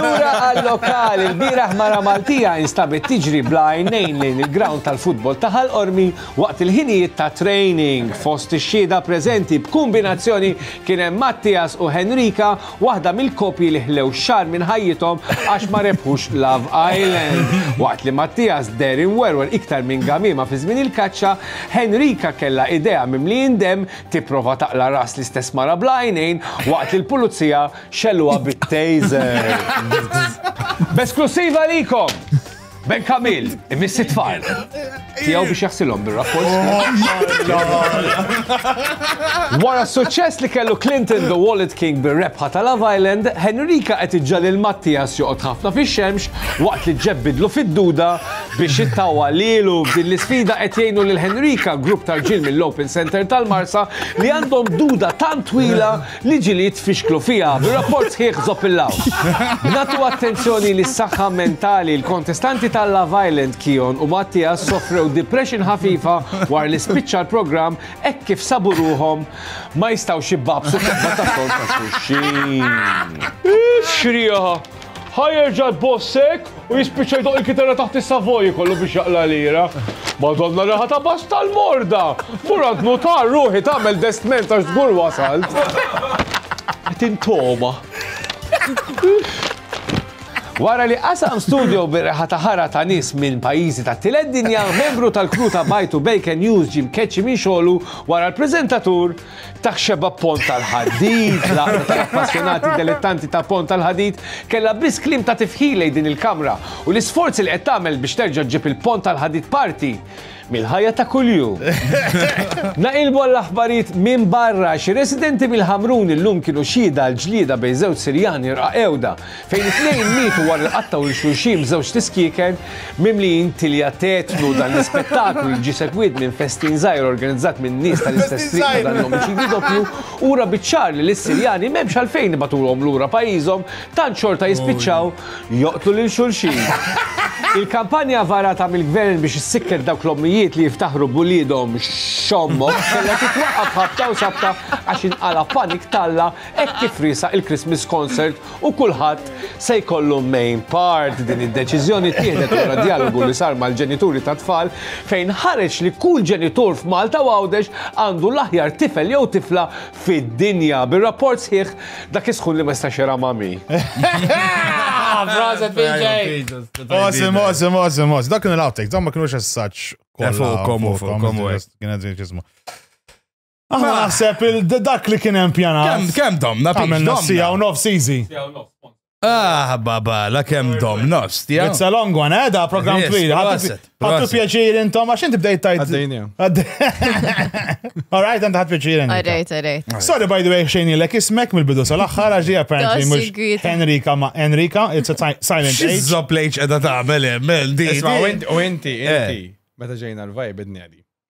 lura għal-lokal il-bieraħ mara Maltija instabet tiġri bla għajnejn lejn il-ground tal-futbol ta' Ħal Qormi waqt il-ħinijiet ta' training. Fost ix-xhieda preżenti b'kumbinazzjoni kien hemm Mattias u Henrika, waħda mill-koppji li ħlew xahar minn ħajjithom għax ma rebħux Love Island. Waqt li Mattias deher imwerwer iktar minn gamiema fi żmien il-kaċċa, Henrika kellha idejha mimlijin demm tipprova taqla' ras l-istess mara bl-għajnejn waqt li l-pulizija xelluha bit-taser. B'esklusiva likom! Ben Kamil, imiss it-tfal. Tiegħu biex jaħsilhom bir-rapport. Wara s-suċċess li kellu Clinton the Wallet King bir-rebħa ta' Love Island, Henrika qed iġġa lil Mattias joqgħod ħafna fix-xemx waqt li ġġebbidlu fid-duda Biex jittawwa lilu f'din l-isfida qed jgħinu lil Henrika grupp ta' rġiel mill-Open Centre tal-Marsa li għandhom duda tant twila li ġilied tfixklu fiha b'rapport sħiħ żopp il-lawn. B'natu attenzjoni lis-saħħa mentali, l-kontestanti ta' Love Island, Kion u Mattias sofrew depression ħafifa wara li spiċċa l-programm hekk kif sabu ruħhom ma jistgħux jibgħabsu f'qebda tas-sond ta' xulxin. Ix-xrieħa Ħa jerġa' jboss hekk u jispiċċa jdoqq il-kitarra taħt is-Savoy ikollu biex jaqla' lira. Madonna reħa ta' bass tal-morda! Mur għand nutar ruħi tagħmel destment għax żgur wasalt. Qed intoma. Wara li qasam studjo bir-reħa ta' ħara ta' nies minn pajjiżi tat-tielet dinja, membru tal-crew ta' Bajtu Bacon News ġie mkeċċi minn xogħlu wara l-preżentatur Dak xebgħa b'pont tal-ħadid, l-għaqda tal-appassjonati delettanti ta' pont tal-ħadid kellha biss kliem ta' tifħir lejn din il-kamra u l-isforzi li qed tagħmel biex terġa' ġġib il-pont tal-ħadid parti mill-ħajja ta' kuljum. Naqilbu għall-aħbarijiet minn barra, xi residenti mill-Ħamrun illum kienu xhieda għall-ġlieda bejn żewġ Sirjani rqaqewda fejn it-tnejn mietu wara li qattgħu lil xulxin b'żewġt iskieken mimlijin tilja tetnu. Dan l-ispettaklu li ġie segwit minn festin żgħir organizzat minn nies tal-istess triq ta' dan l-omiċidju doppju ura biċ-ċar li lis-Sirjani m'hemmx għalfejn ibagħtulhom lura pajjiżhom tant xorta jispiċċaw joqtlu lil xulxin. Il-kampanja varata mill-Gvern biex issikket dawk l-ommijiet li jiftaħru b'uliedhom x'ommok kellha titwaqqaf ħabta u sabta għax inqala' panik t'Alla hekk kif riesaq il-Christmas Concert u kulħadd se jkollu main part. Din id-deċiżjoni ttieħdet wara djalogu li sar mal-ġenituri tat-tfal fejn ħareġ li kull ġenitur f'Malta u Għawdex għandu l-aħjar tifel jew tifla fid-dinja. Bir-rapport sħiħ, dak is-sħun li ma jistax iram għami. Proset, PJ! Awesome, awesome, awesome, awesome. Dak kienu l-outtakes, dawn ma kienux as-saċ. Fuqkom, fuqkom, Kienet ġismu. Aħna Mela. naħseb il- d- dak li kien hemm pjanat. Kem, kem domna, pix Għamilna sija u domna. nofs easy. Ah, babala, kem domna, stja. It's a long one, eh, da program Yes, twil. Ħattu proset, ħattu proset. pjaċir intom, għax inti bdejt tajt. Għaddejnija. All right, għand ħadd pjaċir intom. Għarrejt, għarrejt. Sorry, by the way, xejn ilek ismek mill-bidu sal-axħar, għax hija apparently Dossi mux gwida. Henrika ma Henrika, it's a si- silent age. Xizzo plejċ edha ta' mele, mel, di. Isma, di. u inti, u inti, Eh. inti. Meta ġejna l-vibe id-nedi.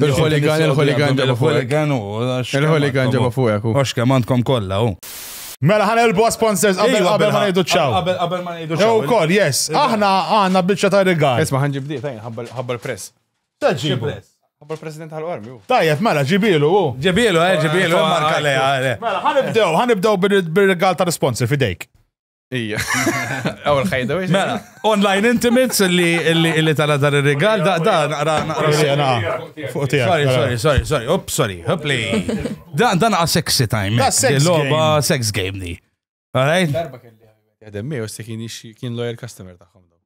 Il-ħoligan, il-ħoligan ġabu fuq. Il-ħoligan u. Il-ħoligan ġabu fuq. Għax kemm għandkom kollha u. Mela ħana il bo sponsors qabel iva, qabel ma ngħidu ċaw. Qabel ma ngħidu ċaw. Jew kol, yes. Iva. Aħna għandna biċċa ta' rigal. Isma' ħanġib di, tajn ħabbar press. Taġġib press. Ħabbar president tal-armi. Tajjeb, mela ġibilu u. Ġibilu, eh, ġibilu, marka lejha. Mela ħanibdew, ħanibdew bir-rigal ta' sponsor fidejk. Ija. Aw l-ħajda biex. Mela, online intimates li tala dar il-regal, da, da, naqra, naqra. Sorry, sorry, sorry, sorry, up, sorry, up li. Da, da naqa sexy time. Da, sex game. sex game di. Alright? Darba kelli għademmi, u se kien lawyer customer taħħom.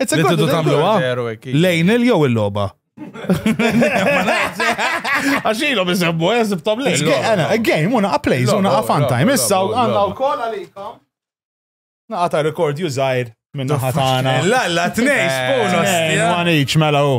It's a Li good tidu tagħmluha Zero hekk, iva. lejn il jew il-logħba. Għax ilhom isemmu eżib tom lejn. A game, una a place, Logħba, una a fun logħba, time. logħba, Issa logħba, għanna logħba. u koll għalikom. Naqa ta' rekord jużajr minna ħatana. La, la, tnejn, spoon, One each, mela u.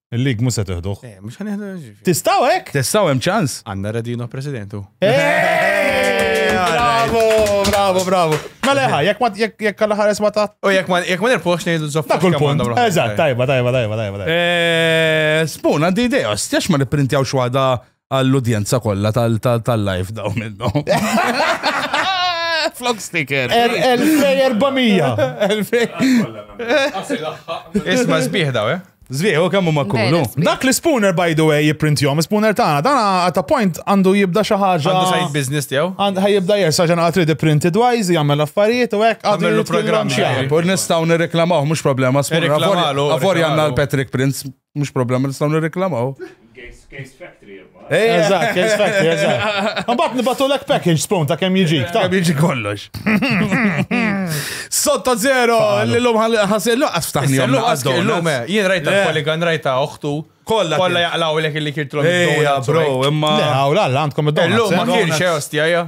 Il-lig mhux se teħduh. Eh, mhux ħanieħdu ġifieri. Tistgħu hekk? Tistgħu hemm ċans? Għandna Radino Presidentu. Eh, Bravo, bravo, bravo. Ma leħa, jekk ma jekk jekk għal ħares ma ta' U jekk ma jekk ma nirpox ngħidu żopp. Dak kull punt. Eżatt, tajba, tajba, tajba, tajba. tajba. Eh, Spuna di idea, stjax ma nipprintjaw xwada għall-udjenza kollha tal-live daw minnu. Flok sticker. 1400. Isma zbieħ daw, eh? Zvieħu kemmu ma kunu. Dak li spooner by the way jipprintjom, spooner tagħna dana at a point għandu jibda xi ħaġa. Għandu side business tiegħu. Għandu ħajibda jersa ġena għatri di printed wise, jagħmel affarijiet u hekk għadu l-programm xi. Pur nistgħu nirreklamaw mhux problema spooner. Għavor għandna l-Patrick Prince Mhux problema nistgħu nirreklamaw. Case Factory imma. Eh, eh. Eżatt, Case Factory, eżatt. Mbagħad nibatu lek package spawn ta' kemm jiġi. Ta' jiġi kollox. Sotta zero, l-lum ħasir luqqas ftaħni. L-lum, eh, jien rajta poligan, rajta oħtu. Kolla. Kolla jaqlaw l-ek li kirtlom. Eja, bro, imma. Le, għawla, għandkom id-dom. L-lum ma kienx, ostja, ja.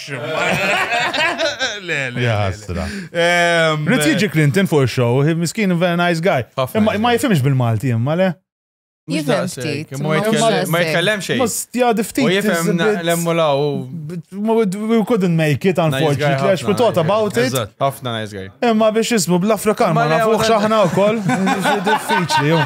Jastra. Ehm, Rrit jiġi Clinton fuq il-show, miskin very nice guy. Imma ma jifimx bil-Malti imma le. Jifem ftit. Ma jitkellem xejn. Mustja diftit. U jifem lemmu law. We couldn't make it, unfortunately, għax we thought about it. Ħafna nice guy. Imma biex jismu bl-Afrikan ma nafuħ xaħna u koll. Diffiċli, jom.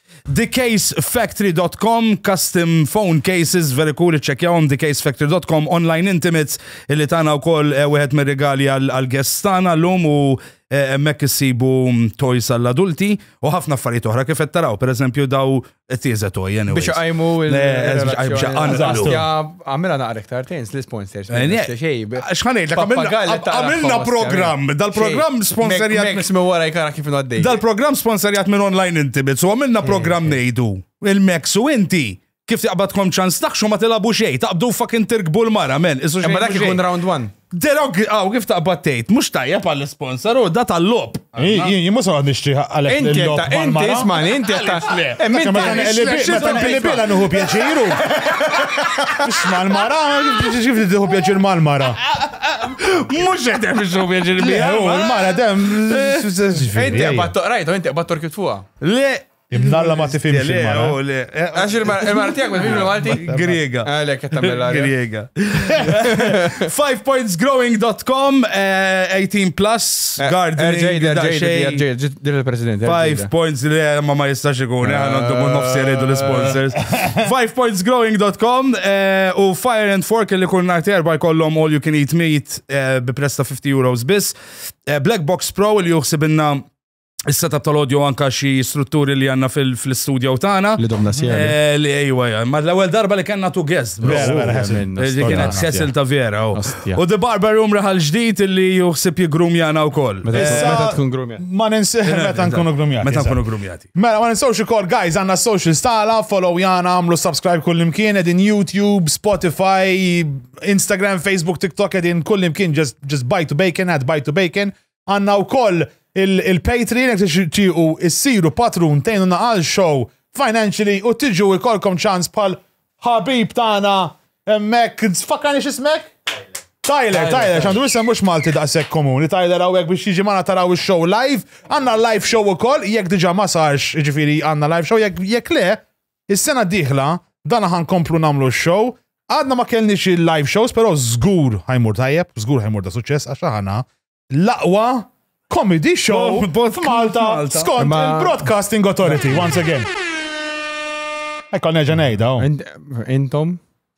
TheCaseFactory dot com, custom phone cases, very cool, iċċekjawhom TheCaseFactory dot com, online intimates, illi tagħna wkoll eh, wieħed mir-rigali għall-guests tagħna llum u eh, hemmhekk issibu mm, toys għall-adulti u ħafna affarijiet oħra kif qed taraw, pereżempju daw tieża toy anyway. Biex għajmu il- Eh, biex- biex- il- għanqlu. il- Għamela naqra iktar tens li sponsors. Eh, Xħanajt, għamilna program, dal-program sponsorjat. Mix me wara jkara kif għaddej. Dal-program sponsorjat minn online inti, bitz, u għamilna eh, program eh. nejdu. Il-Max u inti, kif taqbad kom ċans taħxu ma tilabu xej, taqbdu fucking tirkbu l-mara, men. Imma dak ikun round one. Derog, għaw kif taqbad tgħid, mhux tajjeb għall sponsor u da tal-lob. Jien mhux għad nixtri għalek. Inti ta' inti ismani, inti ta' le. Minn ta' il-bila nuhu pjaċiru. Isma' l-mara, kif tiħu pjaċir mal-mara. Mhux qed hemm ixu pjaċir bija. L-mara dem. Inti qbad toqrajt, inti qbad torkit fuqha. Le, Imnalla ma tifimx il-mara. Eh, Għax il-mara tijak ma tifimx il-Malti? Griega. Għalek, ah, għatamela. Griega. 5pointsgrowing.com, 18 eh, plus, eh, gardening. Din il-president. 5 points li ma ma jistax ikun, għandu mun nofsi rridu l-sponsors. 5pointsgrowing.com u Fire and Fork li kun narti erba jkollom all you can eat meat bi presta 50 euros bis. Black Box Pro li juħsibinna is-setup tal-audio anka xi strutturi li għanna fil-studio tagħna. Li domna sjera. Eh, li ejwa, eh, ma l-ewwel darba li kellna tu guest. Vera, vera, Li kienet Cecil ta' vera. Oh. U The Barber Room raħal ġdid li juħsib jigrumjana wkoll. Meta eh, tkun grumjat. Ma ninsi meta nkunu grumjati. Meta nkunu grumjati. Mela ma ninsewx ukoll guys għandna social stala, follow jana, għamlu subscribe kullimkien edin YouTube, Spotify, Instagram, Facebook, TikTok edin kullimkien just bite to bacon, add bite to bacon. Għanna u koll il-Patreon jek tixtiqu issiru patrun tejnu naqal show financially u tiġu ikolkom ċans pal ħabib tana emmek, fakkarni xismek? Tyler, Tyler, xandu jisem mux Malti daqsek komuni, Tyler għawek biex jiġi mana taraw il-show live, għanna live show u koll, jek diġa ma sarx, ġifiri għanna live show, jek le, Is-sena d-dieħla, dana ħa nkomplu nagħmlu x-show. Għadna ma kellniex il-live shows, però żgur ħajmur tajjeb, żgur ħajmur ta' suċċess għax aħna l-aqwa comedy show Oh, bot- f'Malta Malta. skont Imma- il-Broadcasting Authority once again. Ekka nerġa' ngħidha. oh. Int- Intom?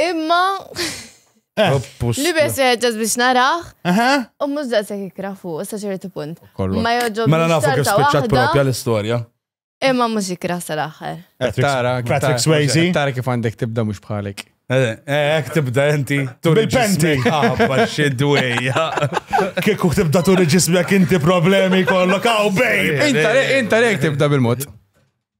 Imma. Eh. Li bes ġaz biex naraħ. U mux daqsek ikra fuq, sa ċertu punt. Ma joġob. Mela nafu kif spiċċat propja l-istorja. Imma mux ikra sal-axħar. Eh, tara, Patrick Swayze. Tara kif għandek tibda mux bħalik. Eh, eh, ek tibda inti. Bil-penti. Għabba ah, xidwejja. Kieku tibda turi ġismek inti problemi kollok għaw bej. Inta rek tibda bil-mod.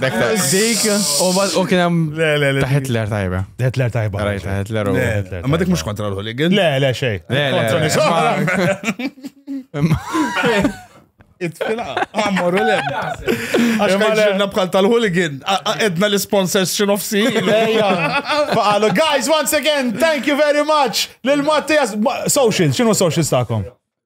Dik, u kien hemm. Le, le, le. Ta' Hitler tajba. Hitler tajba. Rajt ta' Hitler u. Ma dik mhux kontra l-Hooligan. Le, le, xej. Le, le. Kontra nisara. Itfila, għamur u lem. Għax ma ġirna bħal tal-hooligan, edna l-sponsors xinofsi. Faqalu, guys, once again, thank you very much. Lil Mattias, social, xinu social stakom?